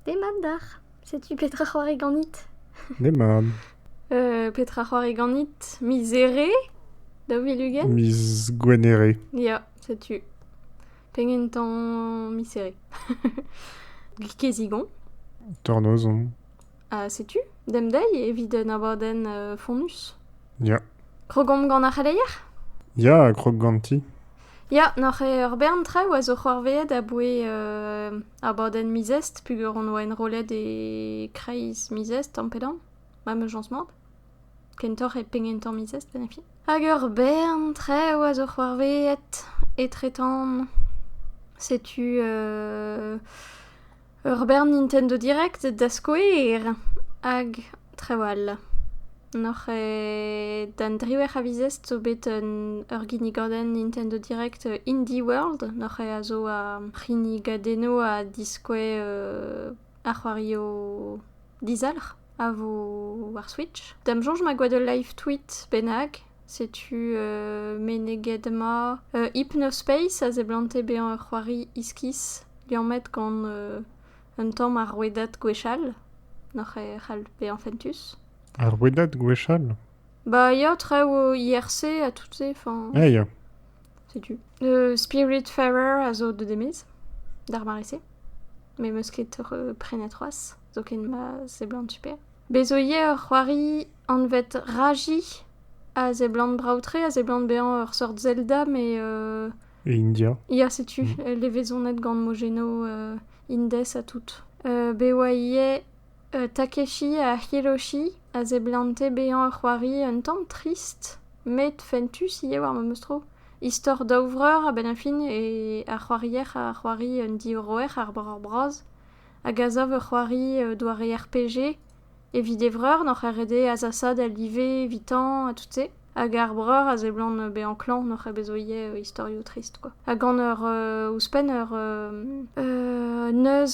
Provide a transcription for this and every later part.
Demat d'ac'h, setu petra c'hoari ganit. Demat. petra c'hoari ganit miz Here daou vil ugent Miz Gwenhere. Ya, setu. Pegen tamm miz Here Gikezigon. Tornoz on. Ha setu, demdei evit un abadenn euh, fonnus. Ya. Krogomp gant ar c'heleier Ya, krog ganti. Ya, n'oc'h ur bern traoù a zo c'hoarveet aboe euh, Abadenn miz Est peger on oa enrollet e kreiz miz Est ampedañ, ma mejañs mat. Kentoc'h e penn-kentañ miz Est en e fin. Hag ur bern traoù a zo c'hoarvezhet etretant. Setu ur bern Nintendo Direct da skouer. Hag Trawal. N'oc'h d'an driwec'h a vizest zo bet ur ginnigadenn Nintendo Direct Indie World. N'oc'h a zo ar c'hinnigadennoù a diskouez ar c'hoarioù dizalc'h a vo war Switch. D'am soñj ma gwa ul live tweet bennak. Setu meneget ma Hypnospace a seblante bezañ ur c'hoari iskis liammet gant Un tamm ar rouedad gwechall n'hoc'h c'hall bezañ fentus. Ar rouedad gwechall Bah ya, traoù IRC ha tout-se. Enfin, Ah ya, setu. Euh, Spiritfarer a zo de Demis, d'ar mare-se. Mes meus ket re- prenet c'hoazh, zoken ma seblant super. Bez zo ivez ur c'hoari anvet Raji a seblant brav-tre, a seblant bezañ ur sort Zelda, mais euh, E India. Ya, setu mm. levezonet gant Mojeno uh, Indes ha tout. Uh, be oa ivez uh, Takeshi ha Hiroshi a zeblante bezañ ur c'hoari un tamm trist, met fentus ivez war memes tro. Istor daou vreur a-benn a fin e ar c'hoarier a c'hoari un diorroer ar breur bras hag a zav ur c'hoari doare RPG Evit e vreur n'oc'h ket ret eo azasaat al live evitañ ha tout-se. Hag ar breur a seblant bezañ klañv n'oc'h ket bet zo ivez istorioù trist kwa. Ha gant ur ouzhpenn ur neuz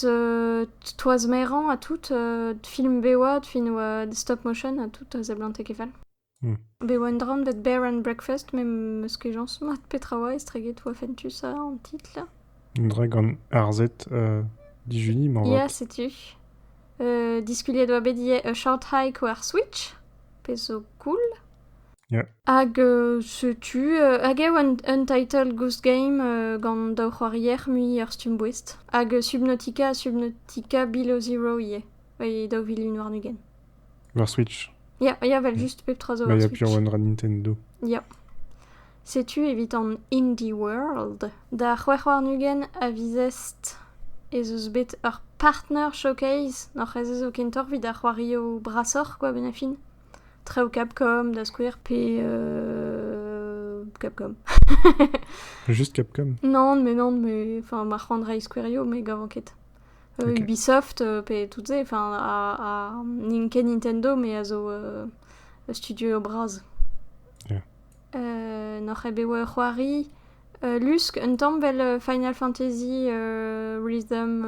toaz-merañ ha tout film bev-oad, film stop motion ha tout a seblante ket fall. Bet oa un dramm bet Bear and Breakfast met m'eus kejañs mat petra oa estreget oa fentus an titl. Un dra gant arzhed uh, dijuni ma Ya, setu. Uh, diskuliet oa bet ivez A Short Hike war Switch, pezh zo cool. Yeah. Hag uh, setu, uh, hag eo un, un title Goose Game uh, gant daou c'hoarier mui ur stumm boest. Hag uh, Subnautica ha Subnautica Below Zero ivez, e daou vilin warn-ugent. War Switch Ya, ya, vel just pep tra zo Bah, war y'a Switch. plusieurs One Run Nintendo. Ya. Setu evit an Indie World. Da c'hwec'h warn-ugent a vizest ez eus bet ur partner showcase. N'oc'h ez eus kentoc'h evit ar c'hoarioù brasoc'h, quoi, benn a fin. Traoù Capcom, da skouer, pe euh, Capcom. Juste Capcom? Non, mais non, mais... Enfin, ma c'hoant reiñ skouerioù, me gavan ket. Ubisoft pe tout se, enfin ha n'int ket Nintendo me a zo studio bras. N'oc'h ket bet oa ur c'hoari lusk un tamm 'vel Final Fantasy Rhythm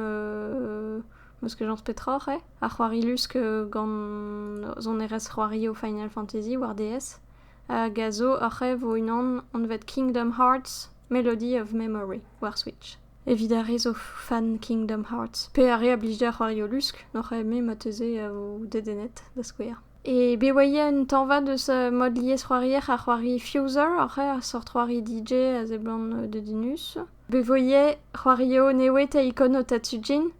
m'eus kejañs petra oc'h eo, ar c'hoari lusk gant sonerezh c'hoari o Final Fantasy war DS hag a zo oc'h eo vo unan anvet Kingdom Hearts Melody of Memory war Switch. evit ar re zo fan Kingdom Hearts. Pe ar re a blij d'ar c'hoarioù lusk, n'oc'h eme marteze e vo dedennet, da skouer. E be oa ivez un tañva deus uh, mod liesc'hoarier ha c'hoari fuser oc'h eo, a sort c'hoari DJ a seblant uh, dedennus. Be vo ivez c'hoario newet a ikon o Tatsujin,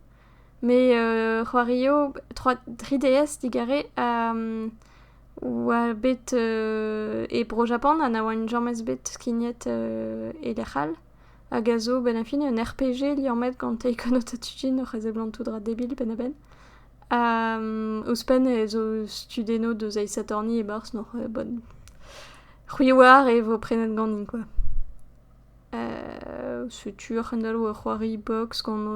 met uh, c'hoario 3DS digare a um, oa bet uh, e Bro-Japan ha na oa james bet skignet uh, e lec'h all. hag a zo benn ar fin un RPG liammet gant Taken Otatouchin oc'h e seblantout ra debil penn-a-benn. Ha ouzhpenn e zo studennoù deus Aes Attorney e-barzh n'oc'h bon. C'hwi oar e vo prenet ganin kwa. setu ar c'hendalv ur c'hoari box gant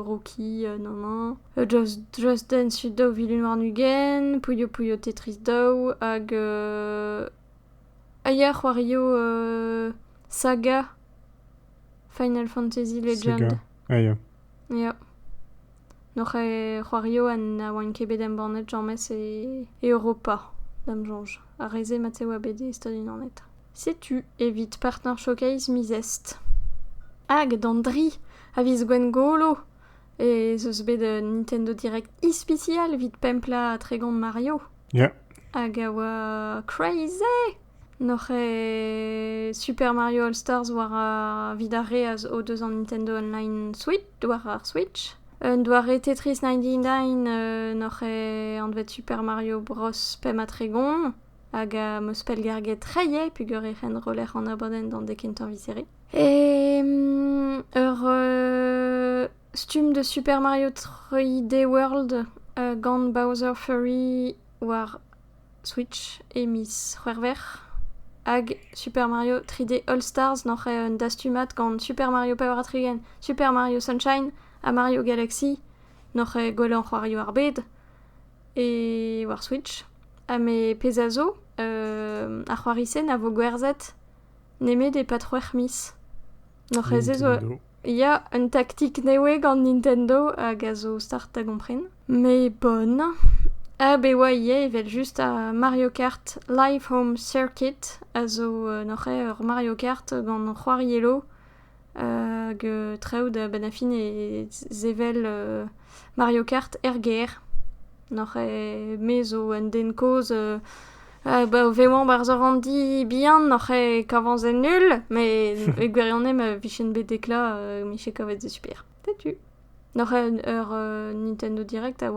Rocky nann-hañ, Just Just Dance you daou vilin warn-ugent, Puyo Puyo Tetris daou hag A ya a c'hoario Saga, Final Fantasy Legend. Saga, ah ya. Ya. Noc'h e c'hoario ha na oan ket bet embannet james e Europa, da'm soñj. Ar re-se mat e oa bet e Stad-Unanet. Setu evit Partner Showcase miz Est. Hag d'an dri a viz Gwengolo! ez eus bet un Nintendo Direct ispisial evit pemplañ Tregont Mario. Yeah. Hag a oa crazy! Noc'h eo Super Mario All Stars war ar vid ar re a zo deus an Nintendo Online Switch, war ar Switch. Un doare Tetris 99 euh, noc'h eo anvet Super Mario Bros. Pemp ha Tregont. Hag a 'm eus pellgarget reier peogwir e c'hen roller an abadenn d'an dek kentañ viseré. Ur stumm de Super Mario 3D World gant Bowser Fury war Switch e miz C'hwec'hver. Hag Super Mario 3D All Stars n'oc'h eo un dastumad gant Super Mario Power Attrigan, Super Mario Sunshine ha Mario Galaxy n'oc'h eo gwell an c'hoarioù ar bed e war Switch. Ha me pezh a zo, ar c'hoari-se na vo gwerzhet nemet e-pad c'hwec'h miz. N'oc'h-eus ez oa... Ya, un taktik nevez gant Nintendo hag a zo start da gompren. Mes bonn. Hag e oa ivez evel-just ar Mario Kart Live Home Circuit, a zo n'oc'h-eo ur Mario Kart gant c'hoariello hag traoù da benn ar fin e sevel Mario Kart er gêr. N'oc'h ket me zo un den kozh o vevañ 'barzh ur ranndi bihan n'oc'h ket kavañ se nul met e gwirionez ma vijen bet deklañ e vije kavet se super. Setu. N'oc'h ket ur Nintendo Direct a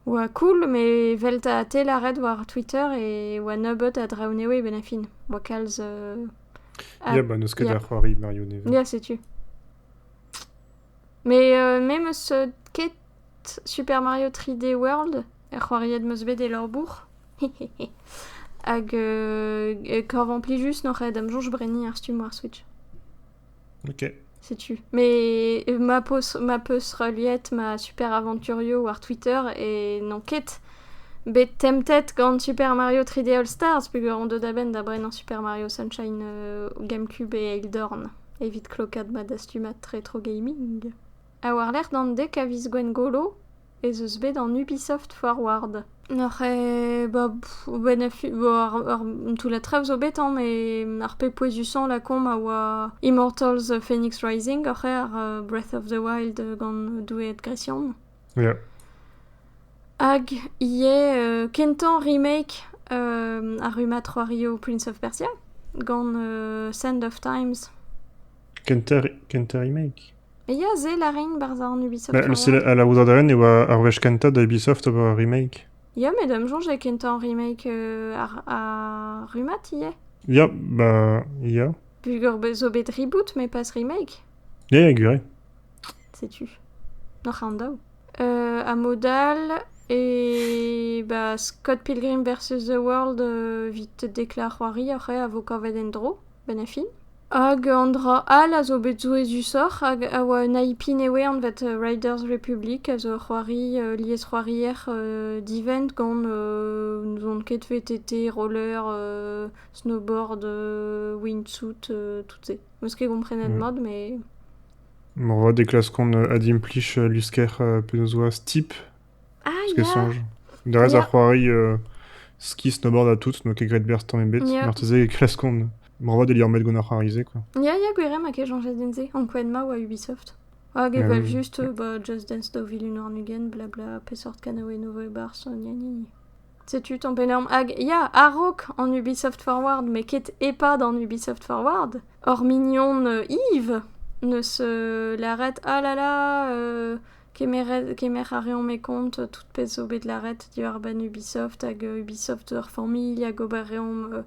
oa cool met 'vel 'ta tell ar ret war Twitter e oa nebeut a draoù newe 'benn ar fin. 'oa kalz... Ya, bah n'eus ket da c'hoari Mario Nevez. Ya, setu. Mais euh, me meus euh, ket Super Mario 3D World, er c'hoariet meus bet e labour. Hag euh, e korvañ plijus n'oc'h ed am soñj brenniñ ar stumm war Switch. Ok. Setu. Mais ma peus, ma peus reliet ma Super Aventurio war Twitter et n'on ket bet tempted gant Super Mario 3D All Stars peger on deuet a-benn da brenañ Super Mario Sunshine euh, GameCube et Elden evit klokaat ma dastumad retro gaming. Ha war-lerc'h d'an dek a viz Gwengolo ez eus bet an Ubisoft Forward. Noc'h eo... Ba... Ar toullad traoù zo bet hañ, met ar pep pouezusañ lakaomp a oa Immortals Phoenix Rising, oc'h eo ar Breath of the Wild gant doueed gresian. Yeah. Hag ivez kentañ remake ar rummad c'hoario Prince of Persia gant Sand of Times. Kentañ remake? Ya, sell a rin 'barzh an Ubisoft Mais Tournament. c'est- la aozadenn e oa ar wech kentañ da Ubisoft ober remake. Ya, met am soñj eo kentañ remake euh, ar, ar rummad ivez. Ya, bah, ya. Pugur be- zo bet reboot, mais pas remake. Ya, ya, gure. Sais-tu Noc'h an daou. Euh, à modal, et bah, Scott Pilgrim vs. The World euh, vit te déclare c'hoari oc'h eo a vo kavet en-dro, ben a fin. Hag an dra all a zo bet souezhusoc'h hag a oa un IPnewe anvet Riders Republic a zo ur c'hoari liesc'hoarier divent gant n'ouzon ket VTT, roller, snowboard, windsuit, tout-se. Meus ket komprenet mat mais... Moarvat e klaskont adimplij lusker penaos 'oa Steep. Parce que soñj. Derez ar c'hoari euh, ski snowboard ha tout n'oa ket graet berzh tamm ebet. Ya. Marteze e klaskont moarvat e liammet gant ar c'hoari-se quoi. Ya, ya, gwir eo ma kejañjez din-se. Ankouaet ma oa Ubisoft. Hag Ah evel oui. juste, euh, bah, Just Dance 2021, blabla, peseurt kanaouenn e voe barzh, gna gna gna. Setu ton penaos... Hag ya, a-raok en Ubisoft Forward, mais ket EHPAD en Ubisoft Forward, hor mignon euh, Yves ne se l'arrête, ah là là, euh, Kemer a reomp e kont tout pezh zo bet lâret diwar-benn Ubisoft hag Ubisoft hor familh hag ober reomp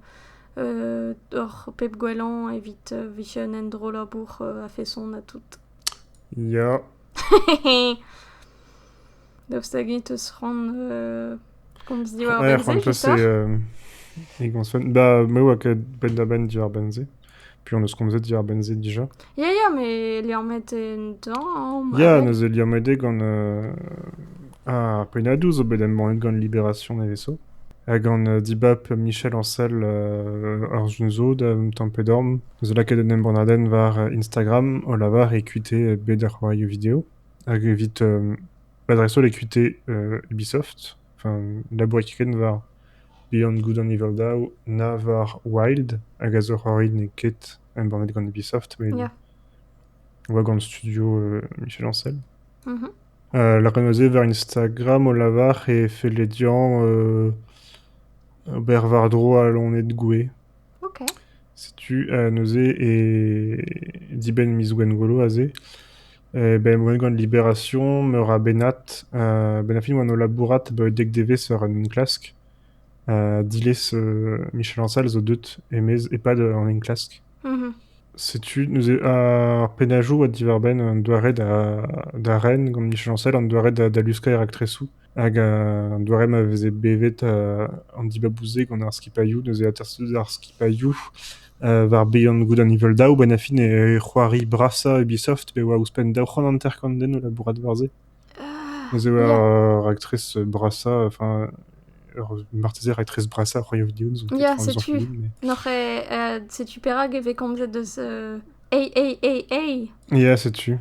hor pep gwellañ evit vicher un endrollabour a-feson ha tout. Ya. Daoust hag eñ teus c'hoant komz diwar-benn se, c'hoar? Ba me oa ket penn-da-benn diwar-benn se. Puis on eus komzet diwar-benn se dija. Ya, ya, mais liammet entañ. Ya, neuze liammet eo gant euh, ar pennadoù zo bet embannet gant Libération Neveso. Ha gant euh, dibab Michel Ancel euh, ar Junzo da Tampedorm. Neuze lakaet un embannadenn war euh, Instagram o lavar écouter bet ar c'hoarioù vidéo. Hag evit euh, l'adresse all écouter euh, Ubisoft. n'aboe ket war bihan goude an Iveldav na war Wild hag a zo c'hoari n'eo ket embannet gant Ubisoft met oa gant studio Michel Ancel. lâret neuze war Instagram o lavar e felle dezhañ ober war-dro al loened gouez. Setu neuze e dibenn miz Gwengolo aze Bemdez gant Libération, meur a bennad. Benn ar fin e oan o labourat abaoe dek devezh war un enklask. Diles Michel Ancel zo deut e-maez e-pad an enklask. Setu neuze ar pennajoù diwar-benn un doare da da ren gant Michel Ancel, an doare da da luskañ e raktresoù. Hag an doare ma veze bevet an dibabou-se gant ar skipailhoù, neuze atersout ar skipailhoù war bihan goude nivel daou, benn ar fin e c'hoari brasañ e Ubisoft pe e oa ouzhpenn daou c'hant hanter-kant den o labourat war-se. Neuze oa ur raktres brasañ, enfin ur marteze raktres brasañ Cry of Dunes. Ya, setu, n'oc'h setu perak e vez komzet eus AAAA. Ya, setu.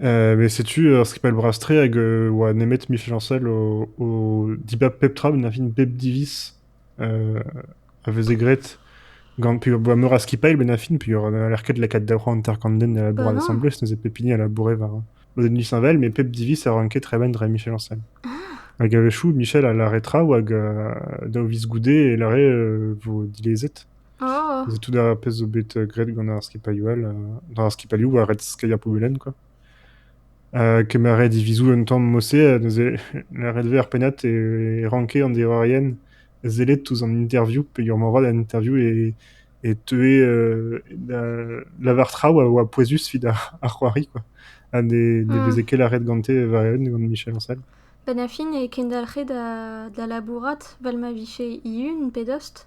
Met setu ur skipal bras-tre hag e oa nemet michañsal o, o dibab pep tra ma n'avint bep diviz a veze graet gant peogwir meur a skipailh benn ar fin peogwir n'haller ket lakaat daou c'hant hanter-kant den da labour asambles neuze pep hini a laboure war lodenn disheñvel met pep diviz a ranke tremen dre michañsal hag a-wechoù Michel a lâre traoù hag daou viz goude e lâre e vo dilezet. Tout ar pezh zo bet graet gant ar skipailhoù all, ar skipailhoù war red skeiñ ar pobelenn kwa. Kemeret divizoù un tamm mod-se neuze ret eo ar pennad e ranke an deverien sellet ouzh an interview peogwir moarvat an interview e teue da lavar traoù a oa pouezus evit ar c'hoari kwa, ha ne veze ket lâret gante war eeun gant Michel Ancel. Benn ar fin e kendalc'he da labourat 'vel ma vije hihun pe dost.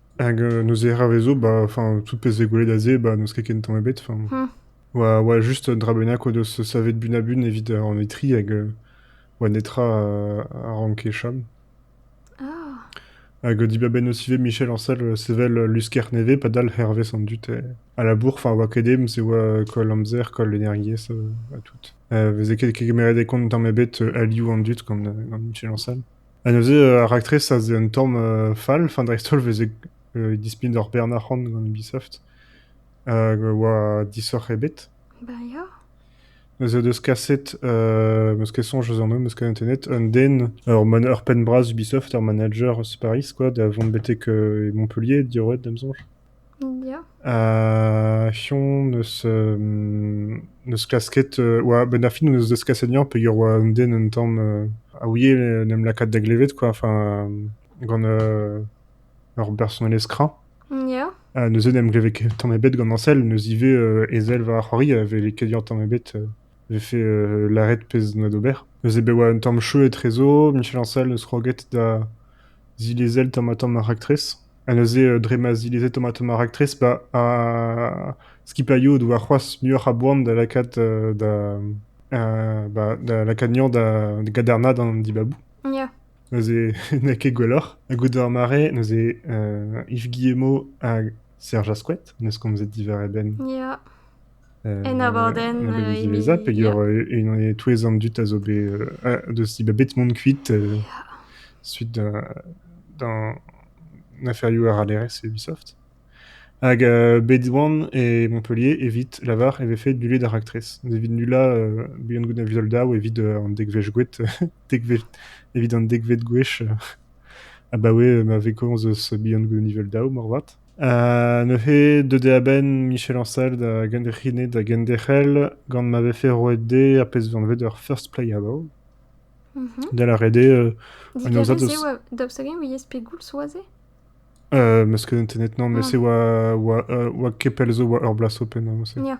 Hag neuze ra vezo, bah enfin tout pezh eo gwelet aze, bah n'eus ket ken tamm ebet. Enfin, oa oa just un dra bennak o deus savet bunabun evit an etri hag euh, oa netra a ranke chom. Hag dibabenn aussi ivez Michel Ancel euh, sevel euh, lusker nevez padal hervez an dud. eh. A la bourre, enfin oa ket dem se oa euh, koll amzer, koll energiezh euh, ha tout. Euh, veze ket ket kemeret e kont tamm ebet euh, alioù an dud gant, euh, gant Michel Ancel. Ha neuze ar raktres a zeu un tamm fall, enfin dreist-holl 'veze dispignet hor bern arc'hant gant Ubisoft, hag a oa disoc'h ebet. Bah ya. Neuze o deus kaset, euh, m'eus ket soñj eus an holl, m'eus kanet net, un den, ur penn-bras Ubisoft, ur manager eus Paris, quoi, da vont betek Montpellier, diorroet, da 'm soñj. Fion n'eus n'eus klasket oa a-benn ar fin hon eus deskaset Yann peogwir oa un den un tamm a ouie en em lakaat da glevet quoi enfin gant ur bersonelezh kreñv. Neuze n'em gleve ket tamm ebet gant Añsel, neus ivez ezel war ar c'hoari a veze ket Yann tamm ebet vefe lâret pezh doa d'ober. Neuze bet oa un tamm cheu etrezo Michel Añsel neus kroget da zilezel tamm-ha-tamm ar raktres. Ha neuze, dre ma zileze tomatomañ raktres, ba skipailhoù o doa c'hoazh muioc'h a boan da lakaat da ba da lakaat anezhañ da gadarnaat an dibabou. Ya. Neuze n'eo ket gwelloc'h. Ha goude ar mare, neuze Yves Guillemot hag Serge Ascouet, n'eus komzet diwar e benn. Ya. En abadenn diwezhañ peger e-touez an dud a zo bet deus bet bet mont kuit suite d'an aferioù arallerezh Ubisoft. Hag bet oan e Montpellier evit lavar e vefe nullet ar raktres. Evit nullañ buan goude Visual Daw evit an dekved gwech evit an dekved gwech abaoe ma vez komz eus buan goude Visual Daw moarvat. neuze deuet eo a-benn Michel Ancel da genderc'hinet da genderc'hel gant ma vefe roet dezhe ar pezh vez anvet ur first playable. Da lâret eo un aozad eus... Daoust hag-eñ ouiez pegoulz zo aze? Uh, ma skeudenn tennet non, mais mm. se oa, oa, oa kepel zo oa ur blas open. Hein, yeah.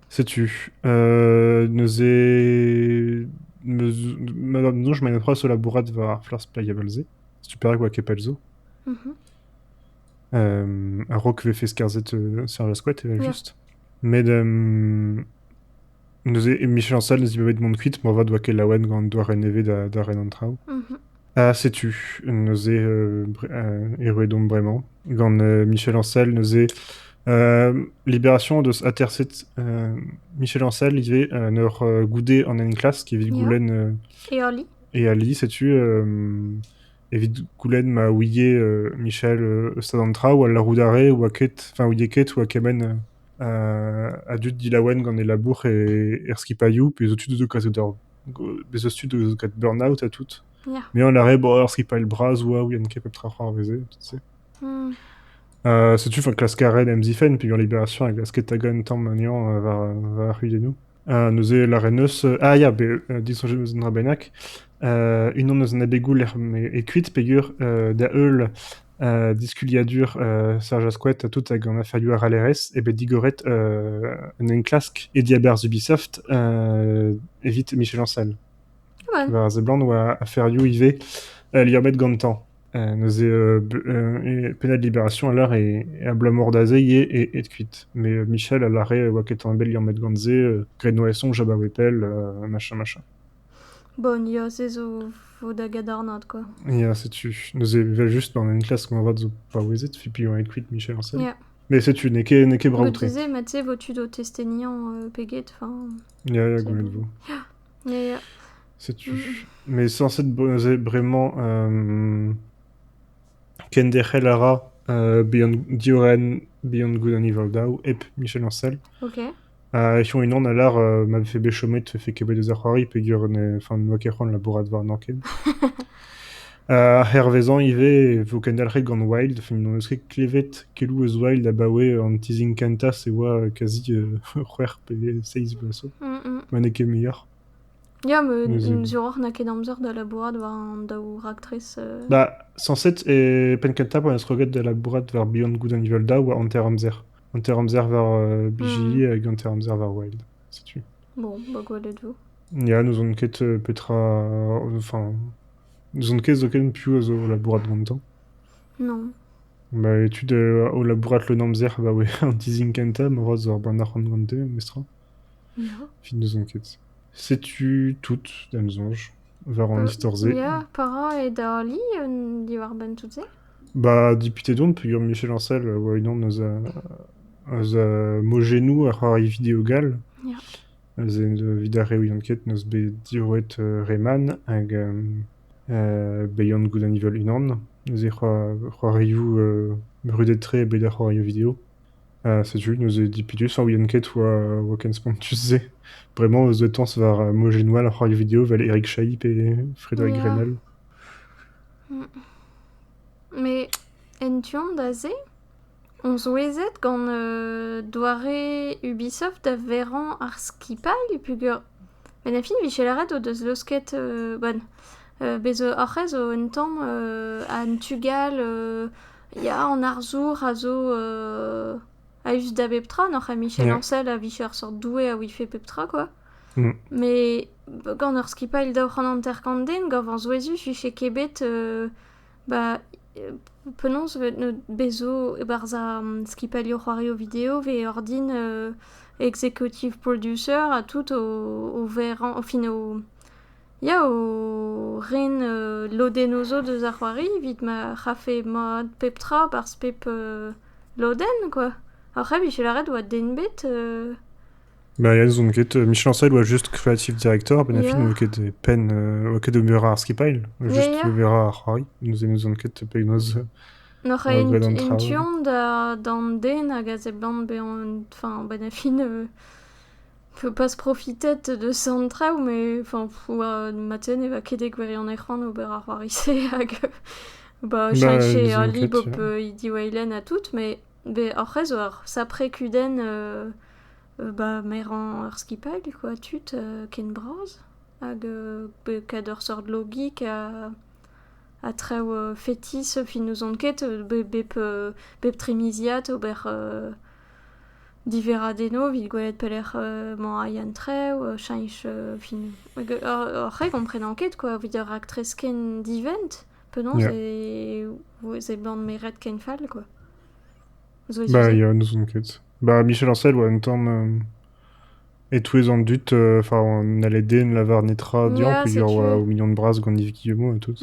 Setu, euh, neuze, meus- madame je m'en troa so labourat war ar flas Playable-se, super quoi kepel zo. Mhm. Euh, a-raok vefe skarzhet euh, Serge Asquette, evel Ja. just. Met, euh, neuze, Michel Ancel ne zi bet bet mont kuit, moarvat doa ket laouen gant doare nevez da, da ren an traoù. Mhm. Ha setu, neuze erruet omp bremañ gant Michel Ancel, neuze Libération deus aterset Michel Ancel ivez en ur goude an enklask evit goulenn... E ali. E ali, setu evit goulenn ma ouie Michel stad an traoù, al laroudare oa ket, enfin ouie ket oa kement a dud dilaouen gant e labour er skipailhoù pe zo tud o deus kaset d'ur Bez' eus tud gant burn-out ha tout. Ya. Meañ a rae bon ur skipailh bras oa ouien ket pep tra c'hoarveze tout se. Hmm. Euh, setu 'fin klask a raen em zifenn peogwir Libération a glaske tagañ un tamm anezhañ euh, war war ar c'huiennoù. Uh, neuze lâret 'neus euh, ah ya bet euh, disoñjet 'neus un dra bennak. Uh, unan eus an abegoù lec'h m'eo eo kuit peogwir uh, da heul Diskuliadur Serj Asquith ha tout hag an aferioù arallerezh eo bet digoret un enklask e diaberzh Ubisoft evit Michel Ancel. War a seblant oa aferioù ivez liammet gantañ. Neuze pennad Libération a lâre e abalamour da se eo aet kuit. Mais Michel a lâre oa ket ket bet liammet gant se graet noason Jabba Weepel machin machin. Bon, ya, se zo 'vo da gadarnaat kwa. Ya, setu, neuze evel-just, on a une classe moarvat zo paouezet, fait puis on est cuite Michel Ancel. Ya. Mais setu, n'eo ket, n'eo ket Comme je brav-tre. disais, mais tu sais, vo tu do testeniañ euh, peget, enfin... Ya, ya, C'est goût bon. Ya, ya. Setu. Mais sans être bosé, vraiment, euh, kenderc'hel a ra euh, Beyond, diorenn Beyond Good and Evil Daw, hep Michel Ancel. Ok. Ha echu unan a lâr ma vefe bet chomet e vefe ket bet eus ar c'hoari peogwir n'oa ket c'hoant labourat warnañ ken. Hervezañ ivez e vo kendalc'het gant Wild, film n'eus ket klevet keloù eus Wild abaoe an tizhin kentañ e oa kazi c'hwec'h pe seizh vloaz zo, ma n'eo ket muioc'h. Ya, ma diwrac'h n'a ket amzer da labourat war an daou raktres. Ba, sañset e penn kentañ pa n'eus kroget da labourat war Beyond Good and Evil Daou oa hanter-amzer. hanter-amzer war euh, bijili hag hanter-amzer war wild. Setu. Bon, bah gwelet vo. Ya, n'ouzon ket euh, petra... Enfin, n'ouzon ket zoken piv a zo labourat gantañ. Non. Ba etud euh, o labourat leun amzer abaoe an dizhin kentañ, ma oa zo ar banac'h gante, mestr. Evit n'ouzon ket. Setu tout, d'am soñj, war an istor-se. Ya, pa ra e dali diwar-benn tout-se? Ba deputet on peogwir Michel Ancel a oa unan eus a eus a mojennoù a ra e video gall. Ya. Eus evit ar re ouiont ket n'eus bet diroet Reman hag Beyond Good and Evil unan. Neuze c'hoarioù brudet-tre bet da c'hoario video. Setu neuze dipidus a ouien ket 'oa ken spontus-se. Bremañ eus detañs war mojennoù all ar c'hoarioù-video 'vel Erik Chailly pe Frédéric Grenelle. Met en tu-hont da se on souezhet gant doare Ubisoft da verañ ar skipailh peogwir met a fin Michel Arrête o deus laosket bon bez oc'h ez zo un tamm an tu gall Ya, an arzour a zo a-us da bep tra, n'oc'h ket Michel Ancel a vije ur seurt doue a ouife pep tra, quoi. Mais gant ur skipailh da oc'h an hanter-kant-den, gant va zouezhus, vije ket bet ba penaos e vet bezo e-barzh ar skipailhoù c'hoarioù video vez ordin executive producer ha tout o verrañ, fin o Yao! Ren lodennoù zo deus ar c'hoari evit ma c'hafe mat pep tra barzh pep lodenn kwa. Ar c'hoari 'vije lâret 'oa den ebet Merien 'z on ket, Michel Ancel 'oa just creative director met na fin 'oa ket e penn 'oa ket ober ar skipailh, just ober ar c'hoari, neuze n'ouzon ket penaos N'oc'h ket en tu-hont d'an den hag a seblant bezañ, enfin, ben a fin. Faut pas se profiter de sant traoù, mais enfin, ma tiens ne va ket e gwirionez c'hoant ober ar c'hoari-se hag bah, chercher disons un que livre tu- peu idiweilen ha tout, mais be ar c'hwezh zo ar sapre kudenn euh, euh, bah, merañ ur skipailh, quoi, tud euh, ken bras hag euh, be kat ur seurt logik ha ha traoù euh, fetis fin n'ouzon ket, be bep euh, bep trimiziad ober euh, Diverradennoù evit gwelet pelec'h emañ ar yen-trev, cheñch fin ar c'hre komprenan ket quoi evit ur raktres ken divent penaos e ban meret ken fall quoi. Ba ya n'ouzon ket. Ba Michel Ancel oa un tamm e-touez an dud enfin n'hallait den lavar netra dezhañ peogwir oa o mignon bras gant Yves Guillemot ha tout.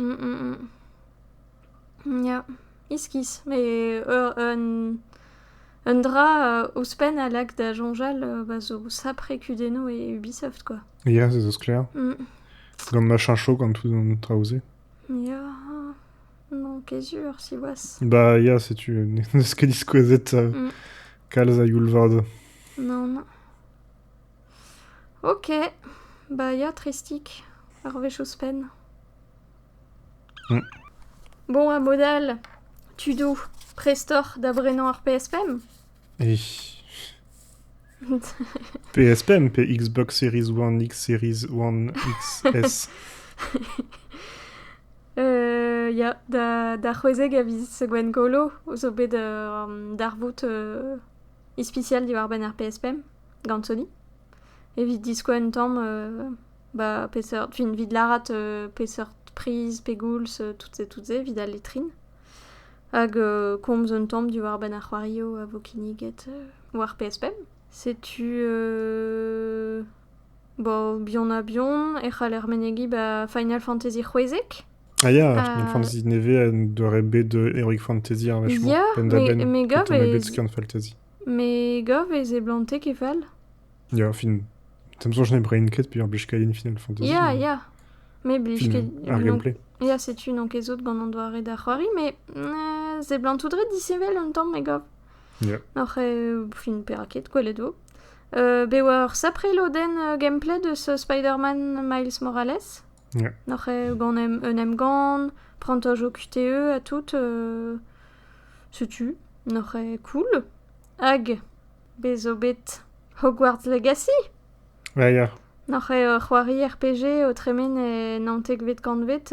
Ya, iskis, met un dra ouzhpenn a lak da soñjal va zo sapre kudennoù e Ubisoft quoi. Ya, ça zo sklaer. Mm. Gant machin chaud gant tout an traoù-se. Ya, non, qu'est sûr, siwazh. Bah ya, setu, n'eus ket diskouezet euh, mm. kalz a youl vad. Non, non. Ok, bah ya, Tristic, ar wech ouzhpenn. Bon a bod all, tudoù, prestoc'h da brenañ ar PS5? E. PS5 pe Xbox Series One, X Series One, XS? Ya, da c'hwezek a viz Gwengolo zo bet ur darvoud ispisial diwar-benn ar PS5 gant Sony. evit diskouez un tamm ba peseurt fin evit lârat peseurt priz pe goulz tout se tout se evit al letrin hag komz un tamm diwar-benn ar c'hoarioù a vo kinniget war PSPM. Setu bo Bihan ha Bihan e c'haller menegiñ ba Final Fantasy c'hwezek. Ah ya, Final Fantasy nevez en doare bet de Heroic Fantasy ar wech-mañ. Ya, me me gav e... Me gav e seblante ket fall. Ya, fin... T'am soñj ne brein ket pe ar blijkailhin final fantasy. Ya, mais- ya. Mais blij Fin, ket... ar gameplay. Ya, setu enkezout gant an doare da c'hoari, mais euh, seblantout ret disheñvel un tamm, me gav. Ya. Oc'h euh, fin perak ket, gwelet vo. Euh, be oa ur sapre lodenn euh, gameplay deus euh, Spider-Man Miles Morales. N'oc'h ket gant un emgann, prantajoù QTE ha tout, setu n'oc'h ket cool. Hag bez' zo bet Hogwarts Legacy. Ya ya. N'oc'h ket ur c'hoari RPG o tremen e naontekvet kantved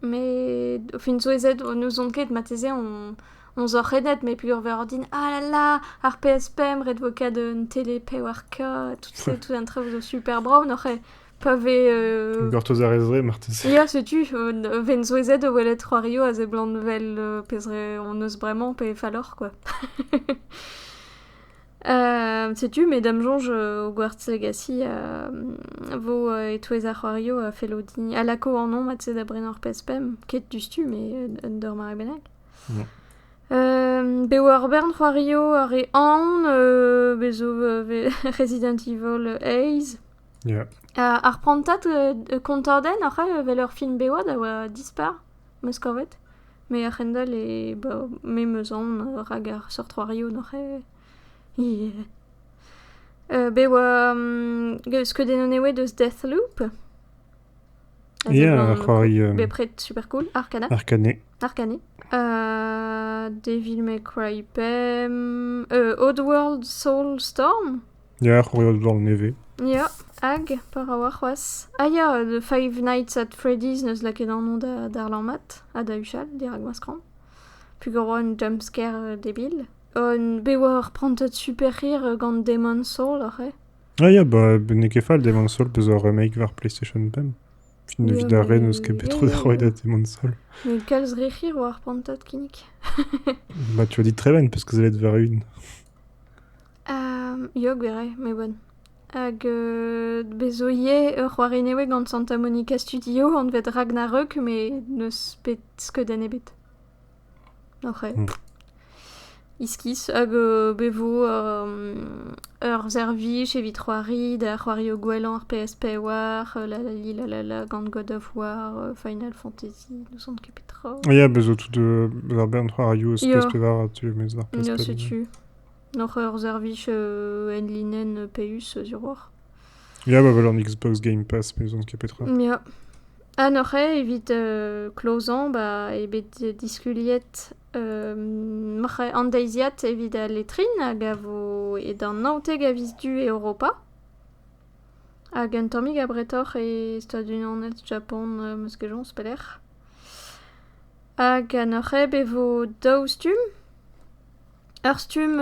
Met o fin souezhet o n'ouzon ket marteze on on zor renet met peogwir ordin ah là là ar PS pemp ret vo kat un tele pewar k tout se tout an traoù zo super brav n'oc'h ket pa vez euh... Gortoz a rez dre marteze. Ya setu euh... ven souezhet o welet c'hoario a seblant 'vel euh... pezh re hon eus bremañ pe falloc'h quoi. Setu me da'm soñj o gwartz-hegasiñ a vo e-touez ar c'hoarioù a fello din... a lako anv mat-se da brenañ ur pezh pemp, ket diouzhtu met d'ur mare bennak. Bev ur bern c'hoarioù, ar re aon, bez zo Resident Evil Haze. Ar prantad kontadenn oc'h evel ur film bev da dispar? 'meus kavet. Me a-hend-all e ba... me 'meus aon rak ar seurt c'hoarioù n'oc'h eo. bet e oa skeudennoù newez deus Deathloop. Ya, ar c'hoari... Bepred super cool, Arcane. Arcane. Arcane. Devil May Cry pemp... Oddworld Soulstorm. Ya, c'hoari o doare nevez. Ya, hag pa ra oa c'hoazh. Ah ya, The Five Nights at Freddy's n'eus lakaet an nom da darlañ mat ha da huchal dirak ma skramm. Pugur oa un jumpscare debil. Un- bet oa ur prantad super hir gant Demon's Soul aze. Ah ya, bah n'eo ket fall Demon's Soul bezañ ur remake war PlayStation pemp. Fin- evit ar re n'eus ket bet tro da roiñ da Demon's Soul. Met kalz re hir oa ar prantad kinnig. Bah tu as dit très bonne parce que ça allait être vrai une. Ia, gwir eo, me oan. Hag euh, bez zo ivez ur c'hoari nevez gant Santa Monica Studio, anvet Ragnarök, met n'eus bet skeudenn ebet. Oc'h eo. Iskis, hag euh, be vo euh, ur servij evit c'hoari da c'hoario gwellañ ar PSP war, euh, la la li la la la gant God of War, euh, Final Fantasy, ne sant ket petra. Ia, bez zo tout de... ar bern c'hoarioù eus PS5 ar tu, mes ar PSP. Ia, setu. Oc'h ur servij enlinenn paius zirouoc'h. Ya, ba vel an Xbox Game Pass, me ouzon ket petra. Ya. Ha n'oc'h eo evit euh, klozañ ba, eo bet diskuliet euh, m'oc'h eo an deiziad evit al letrin hag a vo edan naontek a viz du e Europa. Hag un tammig abretoc'h e Stadunaned Japan, euh, meus ket joñs pelec'h. Hag an oc'h eo bet vo daou stumm? Ur stumm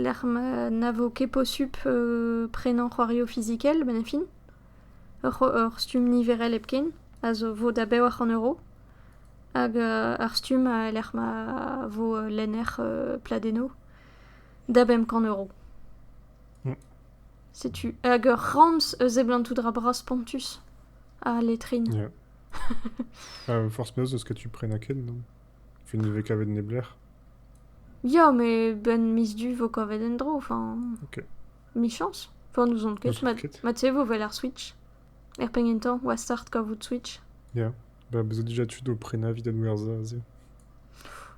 lec'h ma na vo ket posupl prenañ c'hoarioù fizikel benn ar fin. Ur stumm niverel hepken a zo vo da bewec'h an euro. Hag ur stumm lec'h ma vo lenner pladennoù da bemp kant euro. Setu hag ur ramz eus seblantout a dra bras spontus, al letrin. Ya. Forzh penaos, eus ce que tu prennes ken, non? Tu ne vez kavet neblec'h ? Ya, met 'benn miz du 'vo kavet en-dro, enfin... Ok. Michañs ? Enfin n'ouzon ket, N'ouzon ket. ma tu sais 'vo 'vel ar Switch, er pegn entañ 'oa start kavout Switch. Ya, bah bezet dija tud o prenañ evit adwerzhañ aze.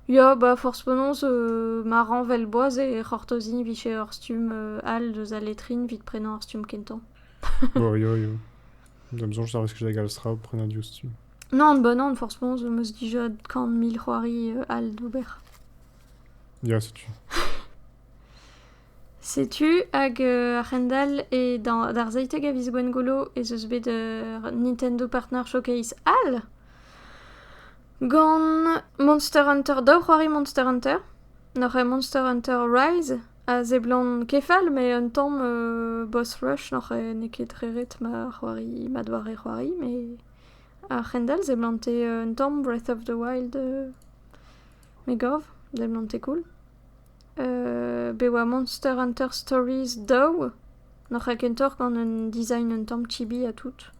Ya, bah forzh penaos euh, ma rañ 'vel boaz e c'hortoziñ 'vije ur stumm euh, all deus al letrin 'vit prenañ ur stumm kentañ. Oh ya, ya. Da 'm soñj ça risque da galz tra o prenañ diouzh tu. Non, bah non, franchement, je me suis dit déjà quand mille c'hoari euh, al d'ober. Ya, setu. Setu, hag euh, a-hend-all e dans- d'ar zeitek a viz Gwengolo ez eus bet euh, Nintendo Partner Showcase all gant Monster Hunter, daou c'hoari Monster Hunter. Noc'h eo Monster Hunter Rise a seblant kefal, mais un tamm euh, boss rush noc'h eo n'eo ket re ret ma c'hoari, ma doare c'hoari, mais A-hend-all seblante un tamm Breath of the Wild me gav, seblante cool. bet oa Monster Hunter Stories daou, n'oc'h ket kentoc'h gant un design un tamm chibi ha tout.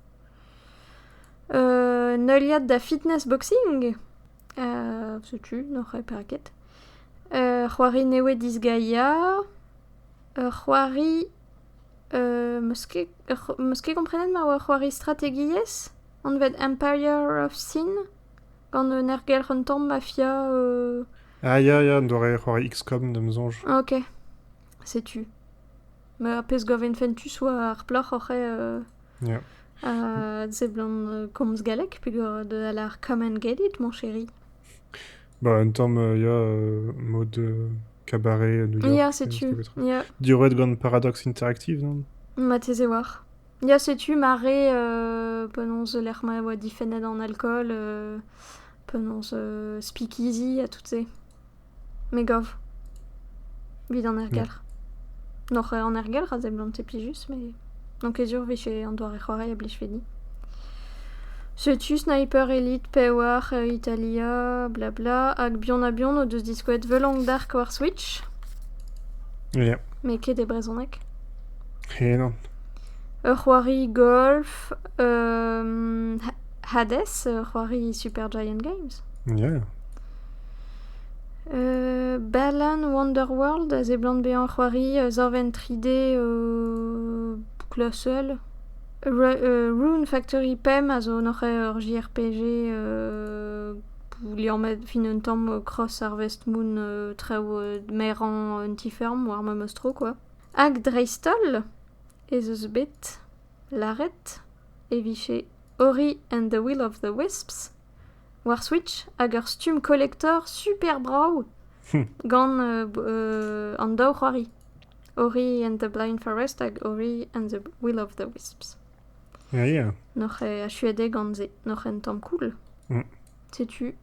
un heuliad da fitness boxing, setu, n'oc'h ket perak ket. ur c'hoari newez disgaea, ur c'hoari Eus meus ket komprenet ma oa ur c'hoari strategiezh anvet Empire of Sin gant un ergelc'h un tamm mafia. Ah ya ya, un doare c'hoari XCOM da'm soñj. Ok, setu. Ar pezh gav int fentus oa ar plac'h oc'h eo a seblant komz galleg peogwir a deu a lar come and get it, mon chéri. Bah, un tamm, euh, ya, euh, mode euh, cabaret à New York. Ya, setu. des trucs. Ya, Diorret gant Paradox Interactive, non? mateze war. Ya, setu mare euh, penaos lec'h ma oa difennet an alcool, euh, penaos euh, speakeasy ha tout se. Me gav. Vit an ergelc'h. Noc'h an ergelc'h a seblant plijus, mais N'on ket sur 'vije an doare-c'hoari a blijfe din. Setu sniper elite pewar Italia blabla hag bihan-ha-bihan o deus diskouezet Vlong Dark war Switch. Ya. Met ket e brezhoneg. Henan. Ur c'hoari golf, Hades, ur c'hoari Super Giant Games. Ya. Berlin Wonderworld a seblant bezañ c'hoari zorvenn tri D boucle ha seul. Rune Factory pemp a zo noc'h ur JRPG liammet fin un tamm cross ar Westmoon traoù merañ un ti-feurm war memes tro kwa. Hag dreist-holl ez eus bet lâret e vije Ori and the Will of the Wisps. War Switch hag ur stumm kolektor super brav gant an daou c'hoari Ori and the Blind Forest hag Ori and the Will of the Wisps. Ah yeah. N'oc'h achuet eo gant se, n'oc'h un tamm cool. Mm. Setu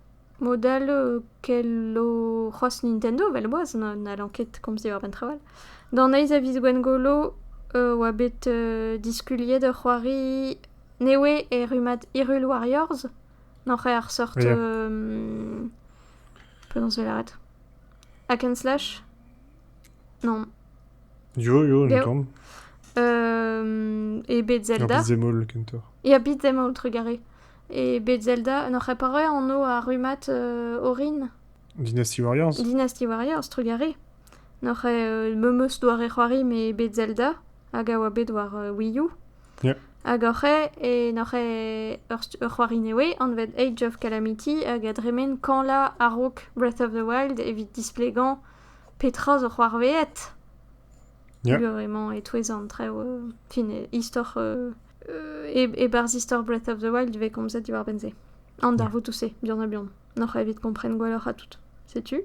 mod all kel o c'hoazh Nintendo vel boaz, n'hallan ket komz diwar benn traoù all. D'an eizh a viz Gwengolo oa bet diskuliet ur c'hoari Ne oe e rummad Irul war Yorzh ? N'oc'h ket ar seurt... Ya. Penaos 'vez lâret ? Hack and slash ? Non. Jo, jo, un Bev. tamm. E Bed Zelda. Ar beat-them-all kentoc'h. Ya, Beat Them All, trugaré. E Bed Zelda, n'oc'h pas roet anv ar rummad euh, orin Dynasty Warriors Dynasty Warriors, trugaré. N'oc'h ket euh, memeus doare c'hoari me Bed Zelda, hag a oa bet war euh, Wii U. Hag oc'h eo e n'oc'h eo ur c'hoari nevez anvet Age of Calamity hag a dremen kañlañ a-raok Breath of the Wild evit displegañ petra zo c'hoarvezhet. Gore-mañ e-touez an traoù fin istor e-barzh istor Breath of the Wild ivez komzet diwar-benn se. An darvoud-se, buan-ha-buan. N'oc'h evit kompren gwelloc'h ha tout. Setu.